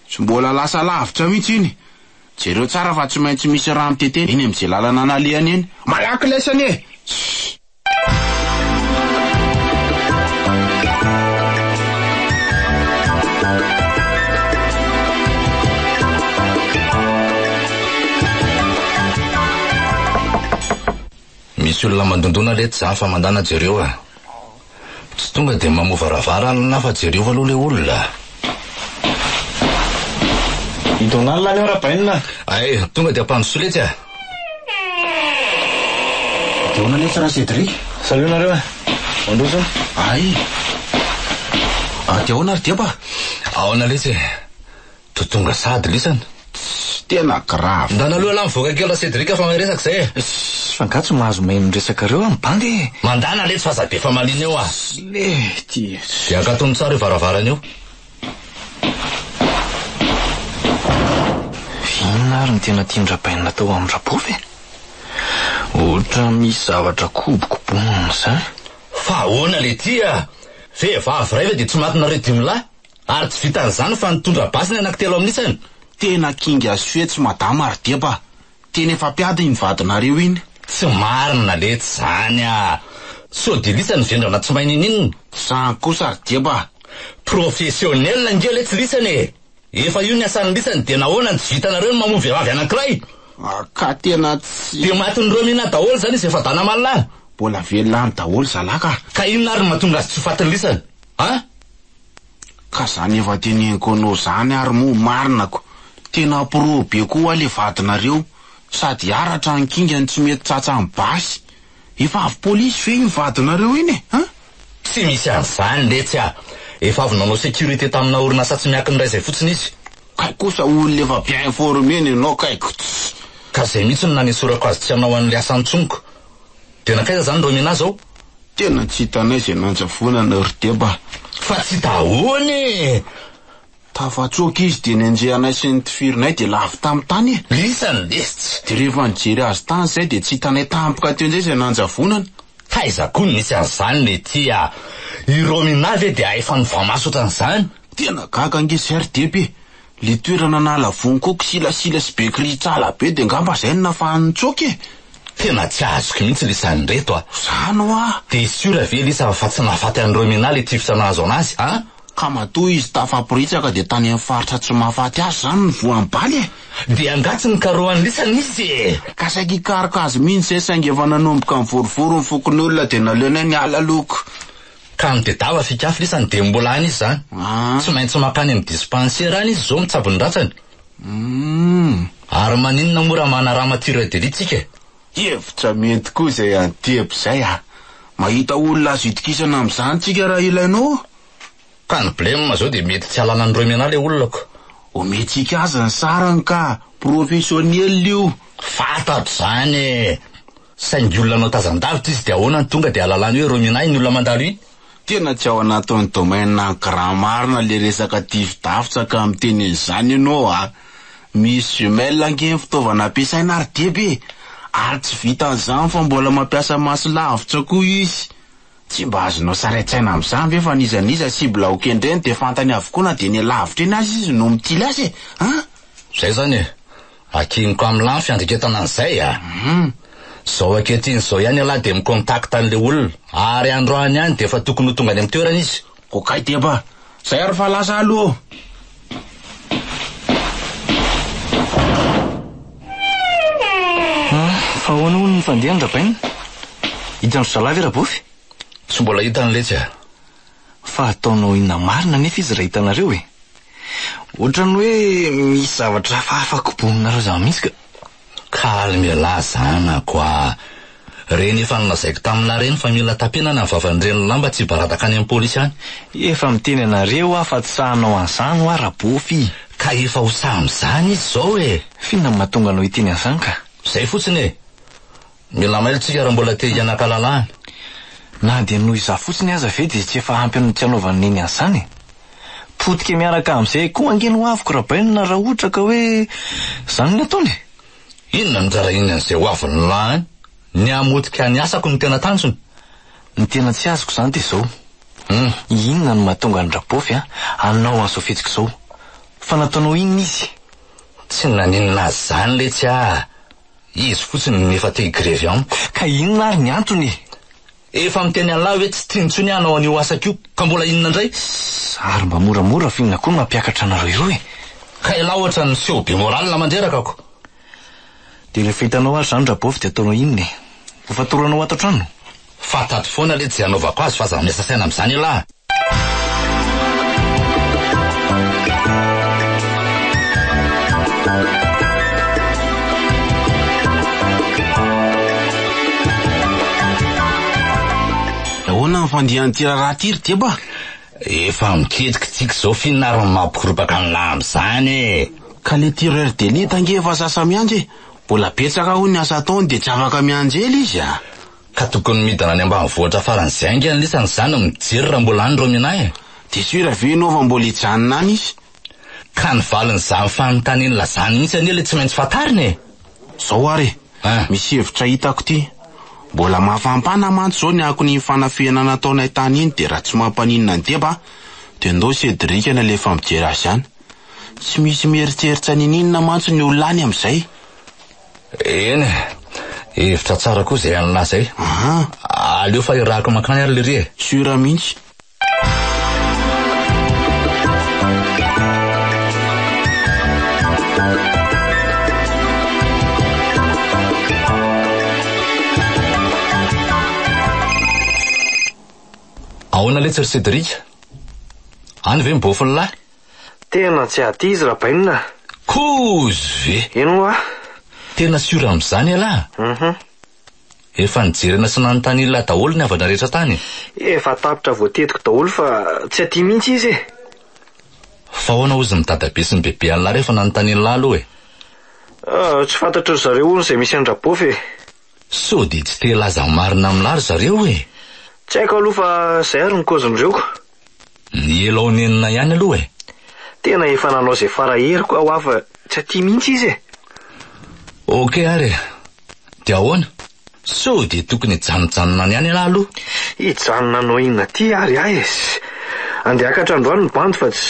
Speaker 5: Tsy mbola lasa lavitra mihitsy iny. Jereo tsara fa tsy maintsy misy rano tetehina eny amin'izay lalana nalehany eny. Malaky ilay sani e! Shh!
Speaker 4: Misy olona mandondona letsy zany fa mandana jereo a. Tsy tonga dia mamoha varavarana fa jereo aloha ilay olona.
Speaker 6: I Donald anie arabainina. Hay, tonga dia
Speaker 4: ampandrosoy letsy a!
Speaker 5: Dia ahoana nefa ra Cédric? Salut nareo a!
Speaker 6: Mandroso a! Hay!
Speaker 5: Ary dia ahoana ry Deba? Aona letsy e!
Speaker 4: To tonga sady lisana. Tsy tena
Speaker 5: grave. Ndana aloha lah mivoaka kely
Speaker 4: ra Cédric fa mahay resaka zay e. Ssss fa nga tsy mahazo
Speaker 6: main ny resakareo aho mibanga e. Mandana letsy fa za be
Speaker 4: famaliana eo ah. Sle ty
Speaker 6: e. Dia akatony tsara io
Speaker 4: varavarana io.
Speaker 6: Inona ary ny tena tian-dRabainina atao amin'ny Rabovy e? Ohatra misy zavatra kobokobonina izany. Fa ahoana
Speaker 4: lety ah? Vehivavy iray ve dia tsy matinareo dimy lahy? Ary tsy vitan'izany fa nitondra basy ny anaky telo amin'isany. Tena kinga
Speaker 5: sy fetsy madama ary deba. Tena efa mpiady iny vadinareo iny. Tsy marina
Speaker 4: letsy zany a! Sao dia lisany ny vendrana tsy mahay niniana? Zany kosa ry
Speaker 5: deba a! Professionnel
Speaker 4: nge letsy lisany e! Efa io ny asan'ny lisany dia nahoana no tsy vitanareo ny mamoa vehivavy anankiray? Ka
Speaker 5: tena tsy. Dia matin'i Romina
Speaker 4: daholo zany izy efa dana aman lahy? Mbola velona any
Speaker 5: daholo zalah ka. Ka inona ary no mahatonga
Speaker 4: azy tsy ho fatin'ny lisany? An?
Speaker 5: Ka zany efa teneniko anao zany ary moa marina ko, tena appro be koa hoa le vadinareo, sady aratra ny kingany tsy mety tsatsa ny basy, efa avy polisy ve iny vadinareo iny e an! Tsy misy
Speaker 4: an'izany letsy ah! Efa avy nanao sécurité tamina orinasa tsy miankina iray izay fotsiny izy. Kay kosa
Speaker 5: olona efa bien informer ny anao kay, kts. Ka zay
Speaker 4: mihitsy no nanesorako azy tsy hanao an'le asany tsoniko. Dia nankaiza zany reo Nina zao? Tena tsy hitanay
Speaker 5: izay nanjavonana ry Deba a! Fa tsy hita
Speaker 4: ahoana e!
Speaker 5: Tafatsoaka izy dia nianjeha anay sy ny tifirinay dia lavo tamin'ny tany e! Lisany lesy!
Speaker 4: Dia rehefa nijery
Speaker 5: azy tany izahay dia tsy hitanay tampoka teo indray izay nanjavonana! Taiza koa no
Speaker 4: nisy an'izany Nety a! I Romina ve dia hay fanofa-maso ohatran'izany? Tena gaga ange
Speaker 5: izahay ry Deba e! Le toerana nahala vono koa kisilasila sy be kiritsala be de ngamba zay no nafahany nitsoaka e! Tena tsy azoko
Speaker 4: mihitsy lisa an'ireto a! Zany hoa!
Speaker 5: De sûr ve lisa
Speaker 4: fa tsy nahafaty an'i Roemena le tifitra nahazo anazy a! Ka matoa izy
Speaker 5: tafaporitsaka de tany amin'ny faritra tsy mahafaty azy zany no voan'ny bala e! De angaha tsy
Speaker 4: nikarohan'i lisa nisy e! Ka saika hikaroka
Speaker 5: azy mihitsy zay saingy efa nanomboka nivorovoro ny fokonolona de naleonay niala loko. Ka any
Speaker 4: Bedava Fikafy lisany dia mbola any izy izany. Tsy maintsy mankany amin'ny dispansera any izy izao mitsabo ny ratsany. Ary maninona moa raha manarama tire de lit tsika e? Hevitra
Speaker 5: mety koa izay an'i Tebo izay a! Mahita olona azo itokisana amin'izany tsika raha ilainao a! Ka ny
Speaker 4: blem izao dia mety tsy hahalala an'i Roimena ilay olona ko! Omentsika
Speaker 5: azy ny sarany ka! Professionnel io! Fantatro
Speaker 4: izany e! Saingy olona nanao tazan-davitra izy dia ahoana no tonga dia ahalalany hoe Rominah iny olona mandalo iny? Tena tsy ao
Speaker 5: anatin'ny domaine an'i grand marina le resaka tifi-davitra ka miteny an'izany ianao a! Misy jumelles ange ny fitaovana ampiasaina ary deba e! Ary tsy vitan'izany fa mbola mampiasa maso lavitra koa izy! Tsy mba azonao sary an-tsaina amin'izany ve fa n'iza n'iza cible hokendreny dia fantany avokoa na dia eny alavitra eny aza izy no mitily azy e! An!
Speaker 4: Zay zany e! Akiniko am la ny
Speaker 5: fiandreketana
Speaker 4: an'izay a! Zao ankehitriny zao ihany ialahy dia mi-contact an'ilay olona, ary androany ihany dia efa tokony ho tonga any am toerana izy. Ko kay dia mba
Speaker 5: zay ary fa lasa aloha
Speaker 6: ô! An! fa ahoana hono ny fandehan-dRabaina? Hitan-dry zalahy ve Rabofy? Tsy mbola hita
Speaker 4: ny letsy a! fa
Speaker 6: ataonao inona marina anefa izy raha hitanareo e? Ohatran'ny hoe misy zavatra hafahafa koboninareo zany mihitsy ka. Calme
Speaker 4: elah zanako a! Reny efa nolazaiko taminah reny fa mila tapina ny vavan'ny reny lamba tsy hibaradaka any amin'ny polisy any. Efa miteny
Speaker 6: anareo aho fa tsy sahy hanao an'izany hoa Rabofy. Ka efa ho sahy
Speaker 4: amin'izany izy izao e! F'inona no mahatonga anao
Speaker 6: hiteny an'izany ka? Izay fotsiny e!
Speaker 4: Mila mailo tsika raha mbola te hianaka lalàna. Na
Speaker 6: dia noho izaho fotsiny aza ve dia tsy efa ampy ny tsy anaovan'i Neny an'izany e! Potika miaraka amin'izay koa ange ny hoaviko Rabainina raha ohatra ka hoe izany no ataony e! Inona no
Speaker 4: nirarahiany an'izay hoaviny na an? Ny hamotika ny asako no tena tanjony? Ny tena
Speaker 6: tsy azoko izany dia izao, Hum. inona no mahatonga an-dRabaofy an hanao an'izao fihetsika izao? Fa nataonao inona izy? Tsy
Speaker 4: naninona azy izany letsy ah! Izy fotsiny no efa te higrevy amiko. Ka inona ary ny
Speaker 6: antony e? Efa
Speaker 4: miteny an'lah hoe tsy tiany intsony aho hanao an'io asako io, ka mbola inona indray? Sss, ary mba
Speaker 6: moramora fa inona koa no mampiakatra anareo eo e? Ka elah ohatra
Speaker 4: ny niseho be morale mandreraka ko!
Speaker 6: Dia rehefa hitanao ary izany Rabôvy dia ataonao inona e? Ho fatoranao ato an-trano? Fa tady foana
Speaker 4: le tsy anaovako azy fa aza miasa saina amin'izany elah.
Speaker 5: Ahoana ny fandihan'ity raharaha ity ry Deba? Efa
Speaker 4: miketriky tsiky zao fihinarana mampikorobaka an'lah amin'izany e! Ka le tireur
Speaker 5: d'élite ange efa sasa miandry e! Mbola betsaka hono ny asa ataony de tsy afaka mianjely izy a! Ka tokony
Speaker 4: midina any ambanivohitra faran'izay ange ny lisany zany no mijery raha mbola any ireo minahy e! Dia sûr ve ianao
Speaker 5: fa mbola hijanona any izy? Ka ny
Speaker 4: valin'izany fanontaniana lazany mihitsy anie ilay tsy maintsy fantarina e! Zao ary e!
Speaker 5: Ah. Misy hevitra hitako ity. Mbola mafampana mantsy izao ny akon'iny fanafihana nataonay tany iny dia raha tsy mampaninona ny deba dia ndao Cédric no alefa mijery azy any. Tsy misy mieritseritsy an'inon'inona mantsy ny olona any amin'izay.
Speaker 4: Eny e, hevitra tsara koa izay an'lah izay. Aha. Aleo fa irahako mankany ary lery e. Sura mihitsy. Ahoana letsy ry Cédric? Any ve ny bôfin'lah? Tena tsy
Speaker 6: aty izy Rabainina a! Kouz
Speaker 4: ve? Eny hoa!
Speaker 6: Tena sûr
Speaker 4: amin'izany ialahy a! Uhum. Efa nijerena sy nanontany Ilah daholo ny havana rehetra tany e! Efa tapitra
Speaker 6: voatetiko daholo fa tsy aty mihitsy izy e!
Speaker 4: Fa ahoana hozy ny dadabe sy ny bebe an'lah rehefa nanontany an'lah aloha e? Ah, tsy
Speaker 6: fantatry ry zareo hono izay misy an-dRabofy e! Sao dia tsy
Speaker 4: te hilaza ny marina amin'lah ry zareo e! Tsy haiko aloha fa
Speaker 6: izay ary ny kaozin'ireo. Ny
Speaker 4: ela onenina ihany aloha e. Tena efa
Speaker 6: nanao izay fara heriko aho hafa tsy aty mihitsy izy e. Ok
Speaker 4: ary e. Dia ahoana? Sao dia tokony hijanojanona any ihany ialahy aloha? Hijanona hanao
Speaker 6: inona aty ary ahy e. Andeha hakatra androany ny bandy fa tsy.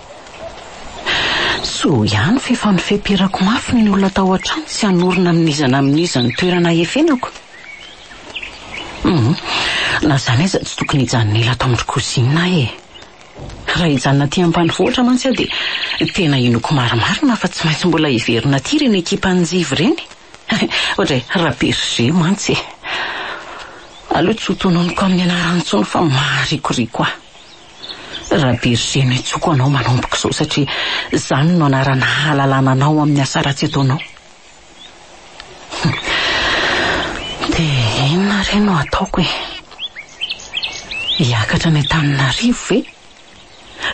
Speaker 2: Soa ihany fa efa nofeperako mafy ny olona tao an-trano tsy hanorina amin'iza na amin'iza ny toerana ahefenako. Humm, na izany aza tsy tokony hijanona ela ato amin'ny cousine aho e. Raha hijanona aty ampanivohitra mantsy aho dia tena inoako marimarina fa tsy maintsy mbola hiverina aty ireny ekipan'i Njivo ireny. Ohatray Ra Berger mantsy e. Aleo tsy ho tononiko amin'ny anarany intsony fa maharikoriko ahy. Rabergé no hitsoko anao manomboka izao satria izany no anarana hahalalana anao amin'ny asa ratsy ataonao. Dia inona re no hataoko e? Hiakatra any Antananarivo ve?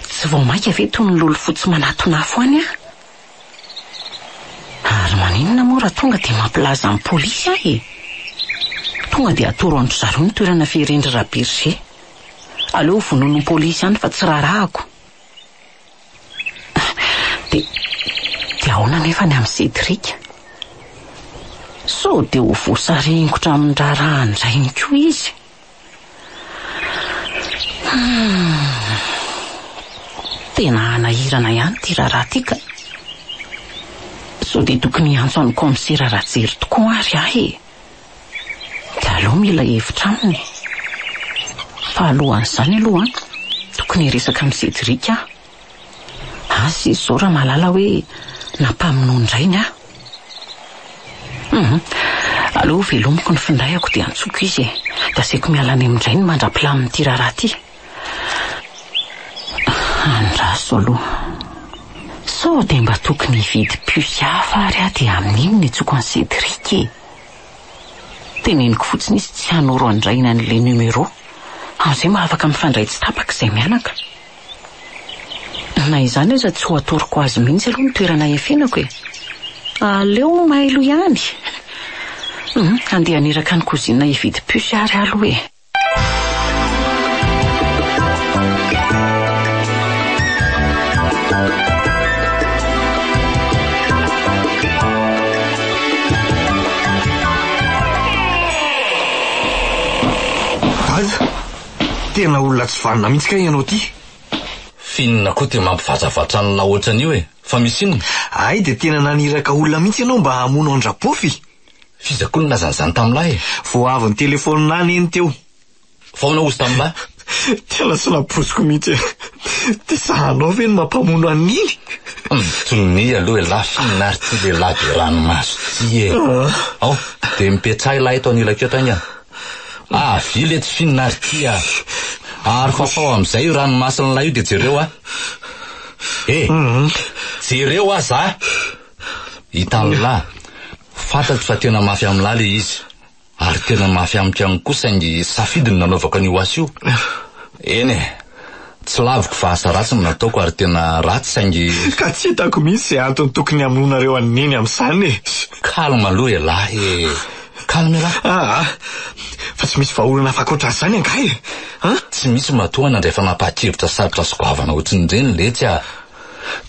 Speaker 2: Tsy vao mainka ve toy ny lolofotsy manatona afo any aho? Ary maninona moa raha tonga dia mampilaza amin'ny polisy aho e? Tonga dia atoro an-dry zareo ny toerana fiheren-dry Rabergé. Aleo vonoin'ny polisy ihany fa tsy raharahako. Dia dia ahoana anefa ny an'i Cédric? Sao dia ho voasaringotra amin'ny raharaha indray ihany koa izy? Tena hanahirana ihany ity raharaha ity ka. Sao dia tokony hiantso an'i kaomisera Rajery tokoa ary aho e! dia aleo mila hevitra aminy e! Fa alohan'izany aloha an, tokony hiresaka amin'i Cédric aho. Asa izy izao raha mahalala hoe nampamonoany rainy aho. Humm, aleo hovelomiko ny findaiko dia antsoiko izy e! Dia asaiko miala any amin-drainy mandra-pilamin'ity raharaha ity. Andraso aloha. Sao dia mba tokony hividy puce hafa ary aho dia amin'iny no hitsoko an'i Cédric e! Teneniko fotsiny izy tsy hanoro andraina an'ilay numéro, amin'izay mba afaka mifandray tsy tapaka izay mianaka. Na izany aza tsy ho atoroko azy mihitsy aloha ny toerana hiafianako e! Aleo mailo ihany! Humm, handeha haniraka an'i cousine hividy puce ary aloha e!
Speaker 6: Tena olona tsy vanona mihitsy kay ianao ity. Finina
Speaker 4: koa te mampivatravatra an'la ohatran'io e. Fa misy inona? Hay dia tena
Speaker 6: naniraka olona mihitsy ianao mba hamono an-dRapofy. F'iza koa no
Speaker 4: nilaza an'izany tamin'lah e? Vao avy nitelefaonina
Speaker 6: ahy neny teo. Vao naozy
Speaker 4: tamin'lah. Tena tsy
Speaker 6: nampoiziko mihitsy e. Dia zahanao ve no mampamono an'iny? Sonia
Speaker 4: aloha elah f'inona ary ity lehilahy be ranomaso ity e? Ao, dia mipetraha elah eto anilako eto aingana. Avily etsy f'inona ary ity a! Ary fafao amin'izay io ranomason'lah io dia jereo aho. E! Jereo aza a! I Tanla, fantatro fa tena mafy amin'lah le izy, ary tena mafy amiko ihany koa saingy safidy ny nanaovako an'io asa io. Eny e, tsy laviko fa asa ratsy no nataoko ary tena ratsy saingy. Ka tsy hitako
Speaker 6: mihitsy izay antony tokony hamonoanareo an'i Neny amin'izany e! Calme aloha
Speaker 4: elah e! Calme elah! Aa! Fa tsy
Speaker 6: misy vahaolana hafa ankoatran'izany angaha e! An? Tsy misy
Speaker 4: matoa nandray fanapahan-kevitra sarotra sy goavana ohatrin'ireny letsy a!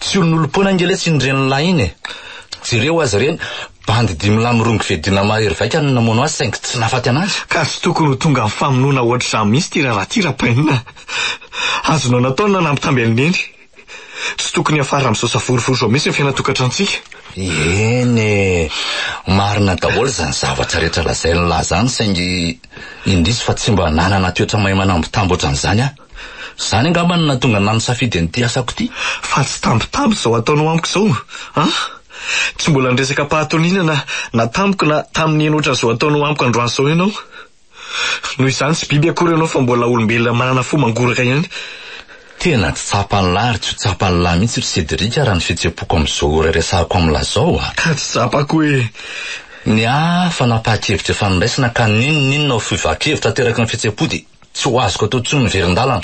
Speaker 4: Tsy olonolompoana ange lesy iny ren'lah iny e. Jereo azy ireny, bandy dimy lahy mirongo fedina mahery vaika no namono azy saingy tsy nahafaty anazy. Ka tsy tokony ho tonga amin'ny
Speaker 6: famonoana ohatr'izany mihitsy ity raharaha ity Rapainina a. Azonao natao ny nanampy tambel'i Neny. Tsy tokony hiafara amin'izao savorovoro izao mihitsy ny fiainan-tokantranontsika. Eny
Speaker 4: e, marina daholo izany zavatra rehetra lazain'lah izany saingy indrisy fa tsy mba nanana toetra mahay manambitamby ohatran'izany aho. Izany angamba no nahatonga anà nisafidy an'ity asako ity. Fa tsy tambitamby
Speaker 6: izao ataonao amiko izao an! Tsy mbola niresaka am-pahatoniana na na tamiko na tamin'ny heno ohatran'izao ataonao amiko androany izao ianao. Noho izany tsy biby akory ianao fa mbola olombelona manana fo mangoraka ihany. Tena
Speaker 4: tsy tsapan'là ary tsy ho tsapan'là mihitsy ry Cédric raha ny fihetsem-poko amin'izao ora iresahako amin'là izao an! Ka tsy tsapako e!
Speaker 6: Ny ahy
Speaker 4: fa napaha-kevitra efa niraisana ka n'inon'inona ho fiovàn-kevitra ateraky ny fihetsem-po dia Tsy ho azoko atao intsony ny verin-dalana.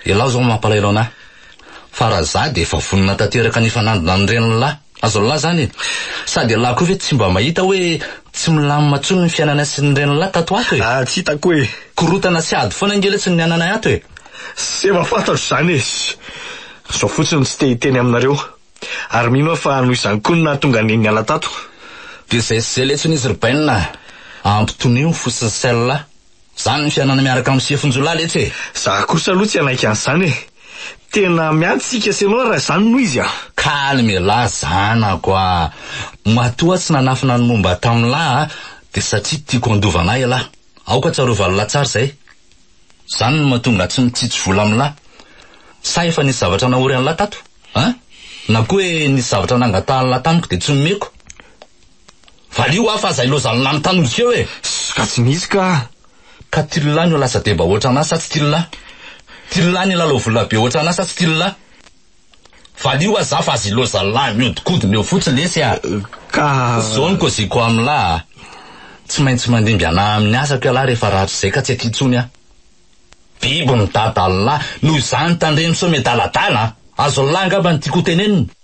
Speaker 4: Ialahy izao no mampalahelo an'ahy. Fa raha izaho dia efa vonona tanteraka ny hifanandrina amin'ireny lahy azo lahy izany e. Sady ialahy koa ve tsy mba mahita hoe tsy milamina intsony ny fiainanay sy ny ren'lahy tato ho ato e. Ah, tsy hitako e.
Speaker 6: Korontana sy ady foana
Speaker 4: ange letsy ny ananay ato e. Tsy efa fantatro
Speaker 6: izany e. Izaho fotsiny no tsy te hiteny aminareo. Ary mino aho fa noho izany koa no nahatonga an'i niala tato. Dia izay sy
Speaker 4: izay letsy ny izy ry Bainina a. Ampitonio ny fo sy ny sain'lahy. Zany ny fianana miaraka amin'ny sefonjiolahy letsy e! Za kosa aloha tsy hanaiky
Speaker 6: an'izany e! Tena miady tsika sy ianao raha izany no izy a! Calme la
Speaker 4: zanako a! Matoa tsy nanafina ny momba tam'lah a! Dia satria tiako handova anah ialahy! Aoka tsarovan lah tsara izay! Zany no mahatonga tsy mitsitsy vola am'lah! Sa efa nisy zavatra nahory an'lah tato? An! Na koa hoe nisy zavatra nangatahan'lah tamiko dia tsy nomeko? Valio aho fa zay lozan'ny lany tany miseho e! Ss ka tsy misy ka!
Speaker 6: Ka tillah
Speaker 4: no lasa deba ohatran'ahy sa tsy tillah? Tillah ny lalao vola be ohatran'ahy sa tsy tillah? Valio aho za fa azy lozan'ny lany mihodinkodina eo fotsiny lesy a! Ka. Zao
Speaker 6: ny koziko
Speaker 4: amin'lah a! Tsy maintsy mandimby anah amin'ny asako ialahy rehefa rahatrizay ka tsy aty intsony aho! Biby midada an'lah! Noho izany tandremo sao miadaladala a! Azon'lah angamba ny tiako hotenenina?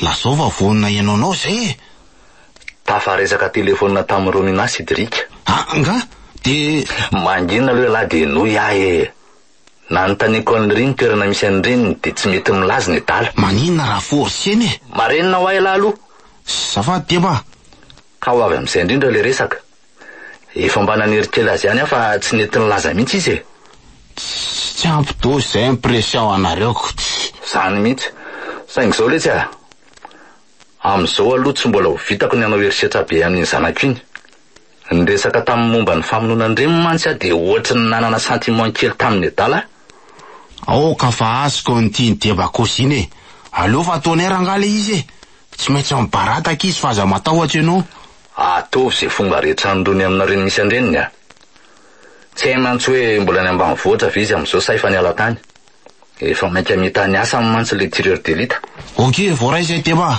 Speaker 4: Lazao fa
Speaker 5: vonona ianao anao izay e!
Speaker 4: Tafaresaka telefonina tamin'i Romina sy Drika. Ah, nga?
Speaker 5: Dia. Mangina aloha
Speaker 4: ialahy dia henoy ahy e! Nanontaniako an'i Ry ny toerana misy an'i Reniny dia tsy mety milaza ny adala. Maninona raha forcena
Speaker 5: e! Marenina ho ahy ialahy aloha!
Speaker 4: Zafady Deba!
Speaker 5: Ka ho avy
Speaker 4: amin'izay indrindra ilay resaka. Efa mba nanery kely azy ihany aho fa tsy nety nilaza mihitsy izy e. Tsy
Speaker 5: ampy dose izay impression anareo ko tsy. Izany mihitsy.
Speaker 4: Saingy izao letsy a. Amin'izao aloha tsy mbola ho vitako ny hanao herisetra be amin'iny zanako iny. Niresaka taminy momba ny famonoana an-dreniny mantsy aho dia ohatry ny nanana sentiment kely taminy adala aho.
Speaker 5: Aoka fa azy konty ny debakosy iny e. Aleo fa tonnerre angaha ilay izy e. Tsy maintsy mibarataka izy fa aza matahotra ianao. Atovy izay
Speaker 4: fomba rehetra anondroany aminareo ny misy an-dreniny a! Tsy hay mantsy hoe mbola any ambanivohitra ve izy amin'izao sa efa niala tany? Efa mainka mita ny asany mantsy ilay tireur d'élite. Ok, voaray
Speaker 5: izay tema.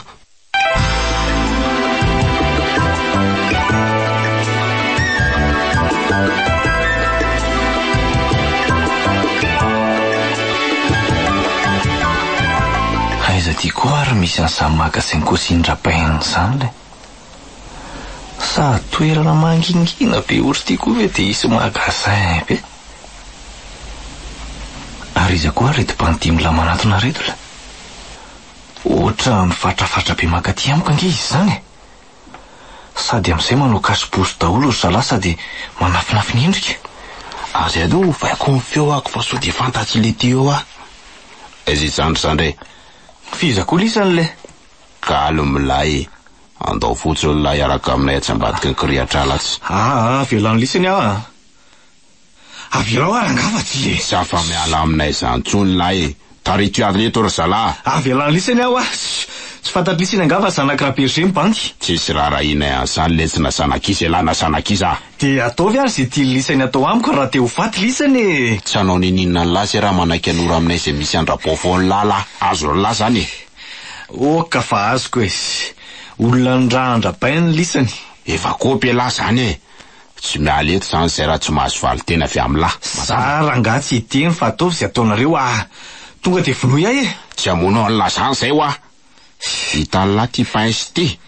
Speaker 6: Aiza ty koa ary misy an'izany magasin cosine rapin zany lay? Sady toerana mangingina be ohatry ity koa ve dia hisy magasin be? Ary iza koa ary reto bandimla manatona reto la? Ohatran'ny fatrafatra be mankaty amiko ange izy izany e! Sady amin'izay manao cache bouche daholo ry zalahy sady manafinafina endrika. Ary aleo
Speaker 5: ovaiko ny feoako fa sao dia fantatr'i Letty eo aho. Aiza izany ry zandry e! F'iza
Speaker 6: koa lisany le? Galy
Speaker 5: milay. Andao fotsiny lahy hiaraka aminay atsy ambadiky ny kirihatr'ala atsy. Aa avelano
Speaker 6: lisany aho a. Avelao ary angaha fa tsy e. Tsy afa-miala aminay
Speaker 5: izany intsony lahy e. Tarito ihany eto ry zalahy. Avelano lisany aho a.
Speaker 6: Tsy fantatry lisany angaha fa zanak'i Rabergé mibandy. Tsisy raharahianay
Speaker 5: an'izany letsy na zanak'iza ialahy na zanak'iza a. Dia ataovy ary
Speaker 6: izay tian'ny lisany atao amiko raha te ho faty lisany e. Tsy hanao ninoninona ny
Speaker 5: lahy zay raha manaiky hanoro aminay izay misy an-dRabao foana lahy lahy. Azon'ny lahy izany e. Oka
Speaker 6: fa azoko e! Olona niraha an-dRabain ny lisany. Efa kôpy elah
Speaker 5: zany e! Tsy miala eto zany zay raha tsy mahazo valin-tena avy amin'lah. Za rangahy tsy
Speaker 6: hiteny fa ataovy izay ataonareo ah! Tonga dia vonoy ahy e! Tsy hamono an'lah zany
Speaker 5: zay hoa! Hitan'lah ty pince ty!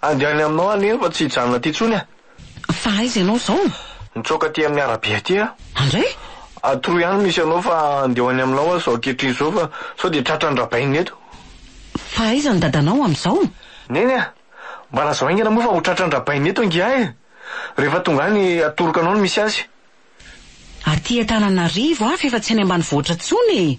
Speaker 6: Andeha any aminao aho neny fa tsy hijanona aty intsony aho. Fa aiza ianao
Speaker 2: izao? Nitsoaka aty amin'ny
Speaker 6: arabe aty aho. Andray?
Speaker 2: Atroy ihany
Speaker 6: no misy anao fa andeha ho any aminao aho izao ankehitriny izao fa sao dia tratra ny rabainina eto. Fa aiza
Speaker 2: ny dadanao amin'izao? Neny a!
Speaker 6: Mba lazao haingana moa fa ho tratra ny rabainina eto angiahy e! Rehefa tonga any atoroko anao ny misy azy.
Speaker 2: Aty Antananarivo aho f'efa tsy any ambanivohitra intsony e!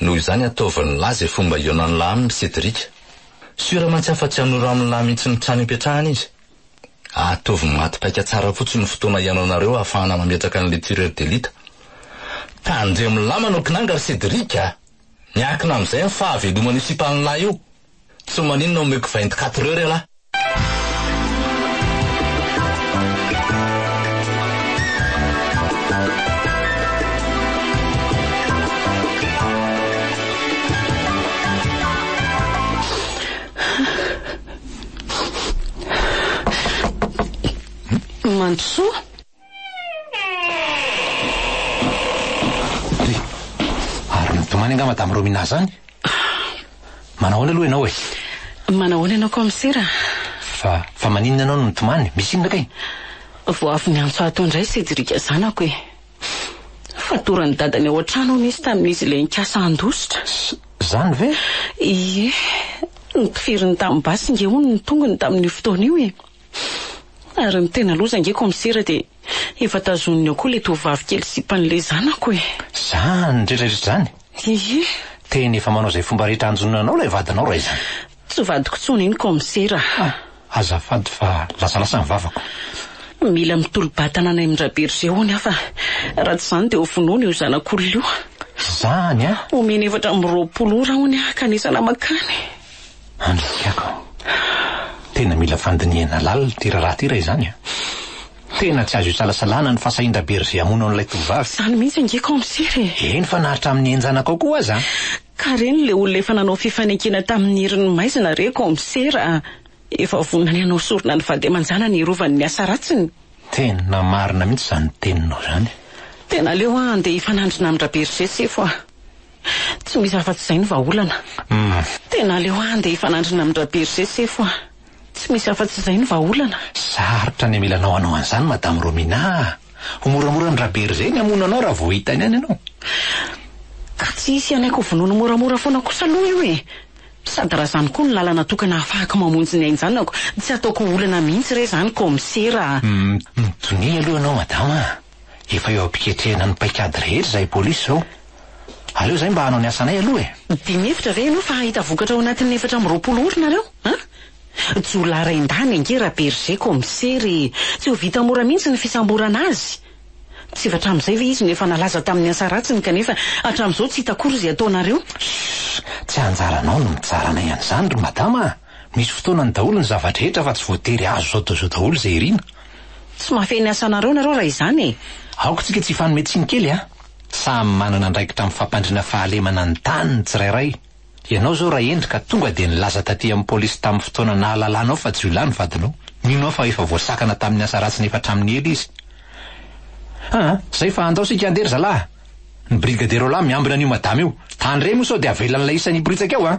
Speaker 4: Noho izany ataovy ny lahy izay fomba ionan'ny lahy aminy Cédric. Sûr mantsy afatsy hanoro amin'ny lahy mihitsy ny trano ipetrahany izy. Ataovy maty paika tsara fotsiny ny fotoana hihaonanareo ahafahana mametraka an'ilay tireur d'élite. Tandremo lamina no kinanga ry Cédric a! Miankina amin'izay ny fahaveloman'io sipan'ny lahy io. Tsy maninona omeko vingt quatre heures ialahy.
Speaker 2: Mandrosoa.
Speaker 3: Ry, ary mitomany angaha Madame Romina zany? Manao ahoana aloha ianao e? Manao ahoana ianao
Speaker 2: Kaomisera? Fa, fa
Speaker 3: maninona ianao no mitomany? Misy inona kay? Vao avy
Speaker 2: niantso ahy tao indray Cédric zanako e. Fatoran'i dadany ao an-trano hono izy tamin'izy ilay nikasa handositra. Zany ve?
Speaker 3: Ie,
Speaker 2: notifirin'ny tanin'ny basy nge hono ny tongony tamin'io fotoana io e. Ary ny tena loza ange komisera dia efa tazoniny ao koa ilay tovovavy kely sipan'ilay zanako e! Zany retraretra
Speaker 3: zany? Ie!
Speaker 2: Tena efa manao
Speaker 3: izay fomba rehetra hanjonona anao ilay vadinao raha izany. Tsy vadiko tsony
Speaker 2: iny komisera a! Ah! Azafady
Speaker 3: fa lasalasa ny vavako. Mila
Speaker 2: mitolo-batana any amin-dRabergé hono aho fa raha tsy izany dia ho vonoina io zanak'olona io. Zany a!
Speaker 3: Omeny efatra amby roapolo
Speaker 2: ora hono aho ka anisana makany. Andrisihako
Speaker 3: an! Tena mila fandinihana lalina ity raharaha ity raha izany an! Tena tsy azo isalasalana ny fahasahian-dRaberger hamono an'ilay tovovavy. Izany mihitsy ange
Speaker 2: kaomisera e! Eny fa na hatramin'ny
Speaker 3: henjanakao koa aza an! Ka reny ilay
Speaker 2: olona efa nanao fifanekena tamin'ny herin'ny maizina re kaomisera a! Efa vonona ny hanao sorona ny vady aman-janany hiarovany ny asa ratsiny. Tena
Speaker 3: marina mihitsy izany teninao izany. Tena aleo aho
Speaker 2: handeha hifanandrina amin-dRaberger sefo a! Tsy misy afa-tsy izay ny vahaolana. Uhm. Tena aleo handeha hifanandrina amin-dRaberger sefo ah. Tsy misy afa-tsy izay ny vahaolana. Sarotra ny
Speaker 3: amilanao hanao an'izany Madame Romina ah. Ho moramora an-dRaberger ny hamono anao raha vao hitany any ianao.
Speaker 2: Ka tsy hisy ihany aky ho vonoiny moramora foana kosa aloha io e. Sady raha izany koa no lalana tokana hahafahako mamonjy ny hainjanako, tsy hataoko ho olana mihitsy re izany Kaomisera ah. Uhm, mitonia
Speaker 3: aloha ianao Madama ah. Efa eo am-piketrehana ny paikady rehetra izahay polisy izao. Aleo izahay mba hanao ny asanay aloha e! Dia mihevitra ve ianao fa hahita
Speaker 2: vokatra ao anatin'ny efatra amby roapolo ora nareo an? Jiolahy rain-dahiny ange Rabergé Comissaire e! Tsy ho vita mora mihitsy ny fisamborana azy. Tsy efa hatramin'izay ve izy no efa nalaza tamin'ny asa ratsiny kanefa hatramin'izao tsy hita akory izay ataonareo? Shh! Tsy
Speaker 3: anjaranao ny mitsara anay an'izany ry Madama a! Misy fotoanany daholo ny zava-drehetra fa tsy voatery azo zao daholo zao daholo izay irina. Tsy mahafehy ny
Speaker 2: asanareo nareo raha izany e! Aoka tsika tsy hifanome
Speaker 3: tsiny kely a! Samy manana andraikitra amin'ny fampandriana fahalemana ny tany ny tsirairay. Ianao zao Rahendry ka tonga dia nilaza taty amin'ny polisy tamin'ny fotoana nahalalanao fa jiolahy ny vadinao. Mino aho fa efa voasakana tamin'ny asa ratsiny efa hatramin'ny ela izy. Aa! Zay fa andao sika handeha ry zalaha! Ny brigadier Roland miambina an'io madama io. Tany iray moa sao dia avelan'ilay isan'ny hiporitsaka eo a!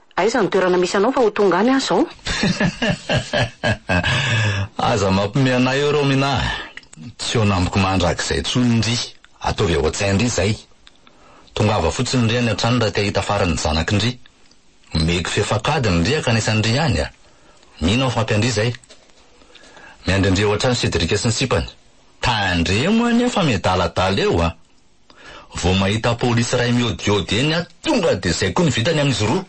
Speaker 4: Aiza ny
Speaker 2: toerana misy anao fa ho tonga any aho izao?
Speaker 4: Aza mampime anay eo Romina a! Tsy eo namiko mandrakizay intsony ndry! Ataovy ao an-tsaina ndry izay! Tongava fotsiny ndry any an-trano raha te hahita farany ny zanako ndry! Omeko fefankadiny ndry hankanesa ndry any a! Mino aho fa ampy an-dry izay! Miandry an-dry ao an-trano Cédric sy ny sipany! Tandremo anie fa miadaladala eo a! Vao mahita polisy iray miodiody eny aho tonga dia izay koa ny vitany amin'izy roa.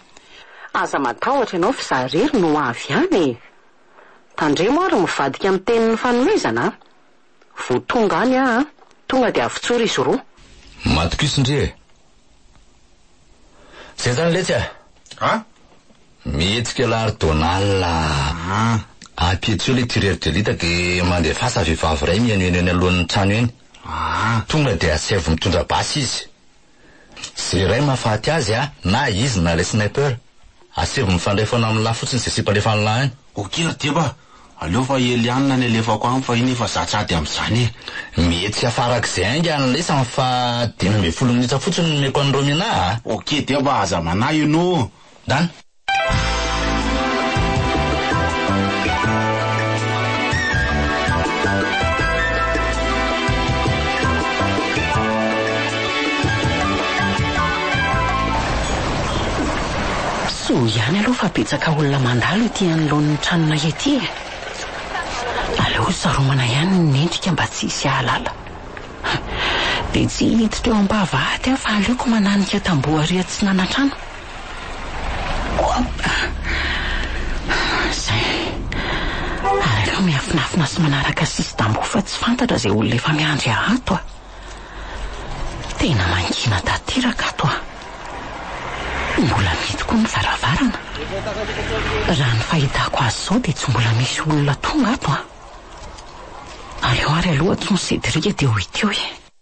Speaker 4: Aza
Speaker 2: matahotra ianao fa izaho irery no ho avy any e! Tandremo ary mivadika amin'ny tenin'ny fanomezana a! Vao tonga any aho an! Tonga dia avotsory izy roa. Matokiso ndry
Speaker 4: e! Izay izany letsy a! A! Mihetsika Lahary Donald a! A! Apetreo ilay tireur de lutte dia mandefasa vehivavy iray mihenoheno eny alohan'ny trano eny. Aa! Tonga dia asaivo mitondra basy izy. Ze iray mahafaty azy a! Na izy na ilay sniper. Asaivo mifandray foana amin'ny lahy fotsiny ze sipa alefan'ny lahy any. Ok ry Deba,
Speaker 5: aleo fa i Eliane no alefako any fa iny efa za tsy ady amin'izany e. Mety tsy
Speaker 4: hafarak'izay ainga ny lesany fa dimy ambin'ny folo minitra fotsiny no omeko an'i Romina a! Ok Deba, aza
Speaker 5: manahy inoa. Done.
Speaker 2: Soa ihany aloha fa betsaka olona mandalo ety anoloan'ny tranonay ety e. Aleo saromana ihany ny endrika mba tsy hisy hahalala. Dia tsy hiditra eo am-pahavahaty aho fa aleoko mananika tamboho ary atsinanantrano. Izay. Ary aleo miafinafina sy manaraka sisy tamboho fa tsy fantatra izay olona efa miandry ahy ato a! Tena mangina tanteraka ato a! Mbola mety koa ny varavarana. Raha ny fahitako azy izao dia tsy mbola misy olona tonga ato a! Aleo ary aloha tsy ho Cédric dia ho ity hoe.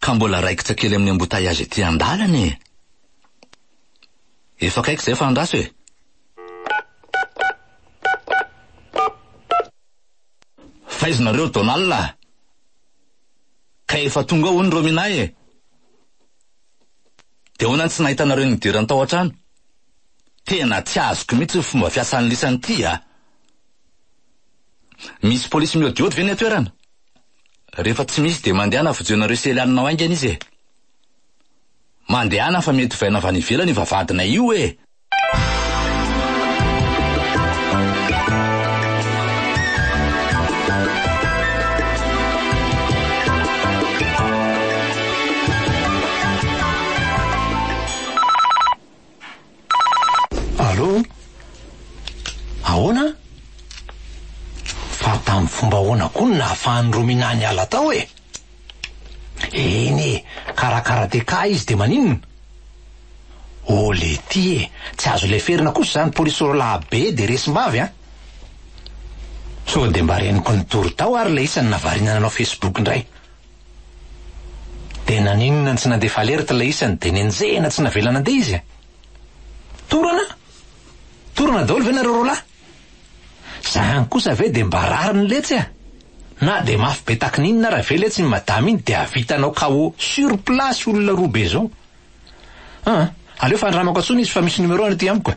Speaker 4: Ka mbola raikitra kely amin'ny embouteillage ety an-dalana e! Efa akaiky izay fa andraso e! Fa aiza nareo Donald a? Ka efa tonga ao hono Romina e! Dia ahoana no tsy nahitanareo ny idirany tao an-trano? Tena tsy azoko mihitsy ny fomba fiasan'ny lisany ity a! Misy polisy miodiody ve ny an-toerana? Rehefa tsy misy dia mandehana vojoinareo sy Eliane nao haingana izy e. Mandehana fa mety ovaina avy any ivelany io vavahadinay io e.
Speaker 3: Allô? Ahoana? Fa tamin'ny fomba ahoana koa no nahafahan'i Romina niala tao e? Eny e, karaha karateka izy dia maninona? Oh Letty e, tsy azo leferina kosa izany polisy orolahy be dia resim-bavy an! Sao dia mba reniko nitory tao ary ilay isany nahavariana nanao Facebook indray. Dia naninona tsy nandefa alerte ilay isany dia nenjehina tsy navela nandeha izy e? Torana? Torana daholo ve nareo roalahy? Zany kosa ve dia mba rariny letsy a? Na dia mafy be takininona ara ve letsy iny madama iny dia havitanao KO sur place olona roa be zao? An! aleo fandramako antsony izy fa misy numerony aty amiko e!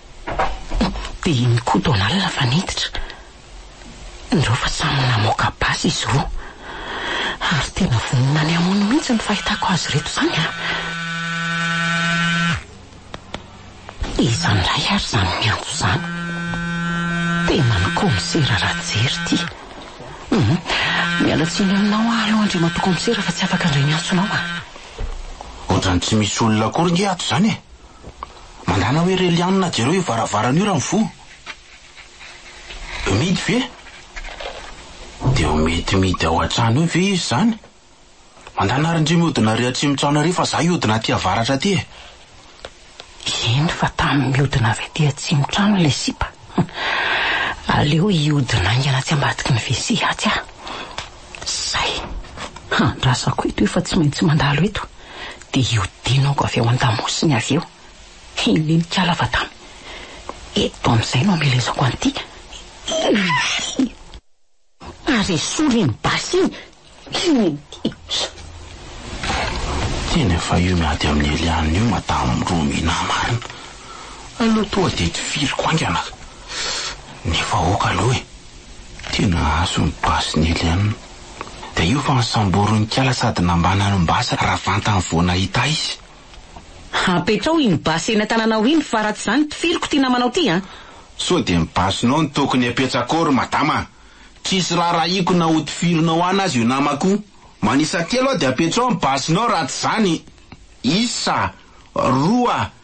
Speaker 2: Dia iny koa Donald fa niditra. Indreo fa samy namoaka basy izy roa. Ary tena vonona ny hamono mihitsy ny fahitako azy ireto izany an! Iza indray ary izany miantso izany? Tena ny kaomisera Rajery ity. Hum, miala tsiny aminao aho aloha Andriamatoa Kaomisera fa tsy afaka indray miantso anao an!
Speaker 5: Ohatran'ny tsy misy olona akory nge ato izany e! Mandana hoe Relianina jereo io varavarana io raha mivoha. Midy ve? Dia ho mety midy ao an-trano eo ve izy izany? Mandana ary ndry mihodina ary atsimo trano ary fa za hihodina aty avaratra aty e!
Speaker 2: Eny fa tamin'ny mihodina avy aty atsimo trano ilay sipa. Aleo hihodina haingana atsy ambadiky ny WC atsy aho. Izay! Handrasako eto efa tsy maintsy mandalo eto dia hiodinako avy ao an-damosiny avy eo. Hininikala fa tamy eto amin'izay no amelezako an'ity. Ary esory iny basy iny! Hininikala!
Speaker 5: Tena fa io miady amin'i Eliane io madame Romina marina! Aleo toa dia tifiriko haingana ka! Nefa aoka aloha e! Tena azo ny basy ny Eliane. Dia io fa nisambory ny kala sady nambanany ny basy raha vantany vao nahita izy. Apetraho
Speaker 2: iny basy eny an-tananao iny fa raha tsy izany tifiriko ity namanao ity an! Sao dia ny
Speaker 5: basinao no tokony apetsakao ry madama a! Tsisy raharahiako na hotifirinao any aza io namako io. Manisa telo aho dia apetraho ny basinao raha tsy izany isa, roa,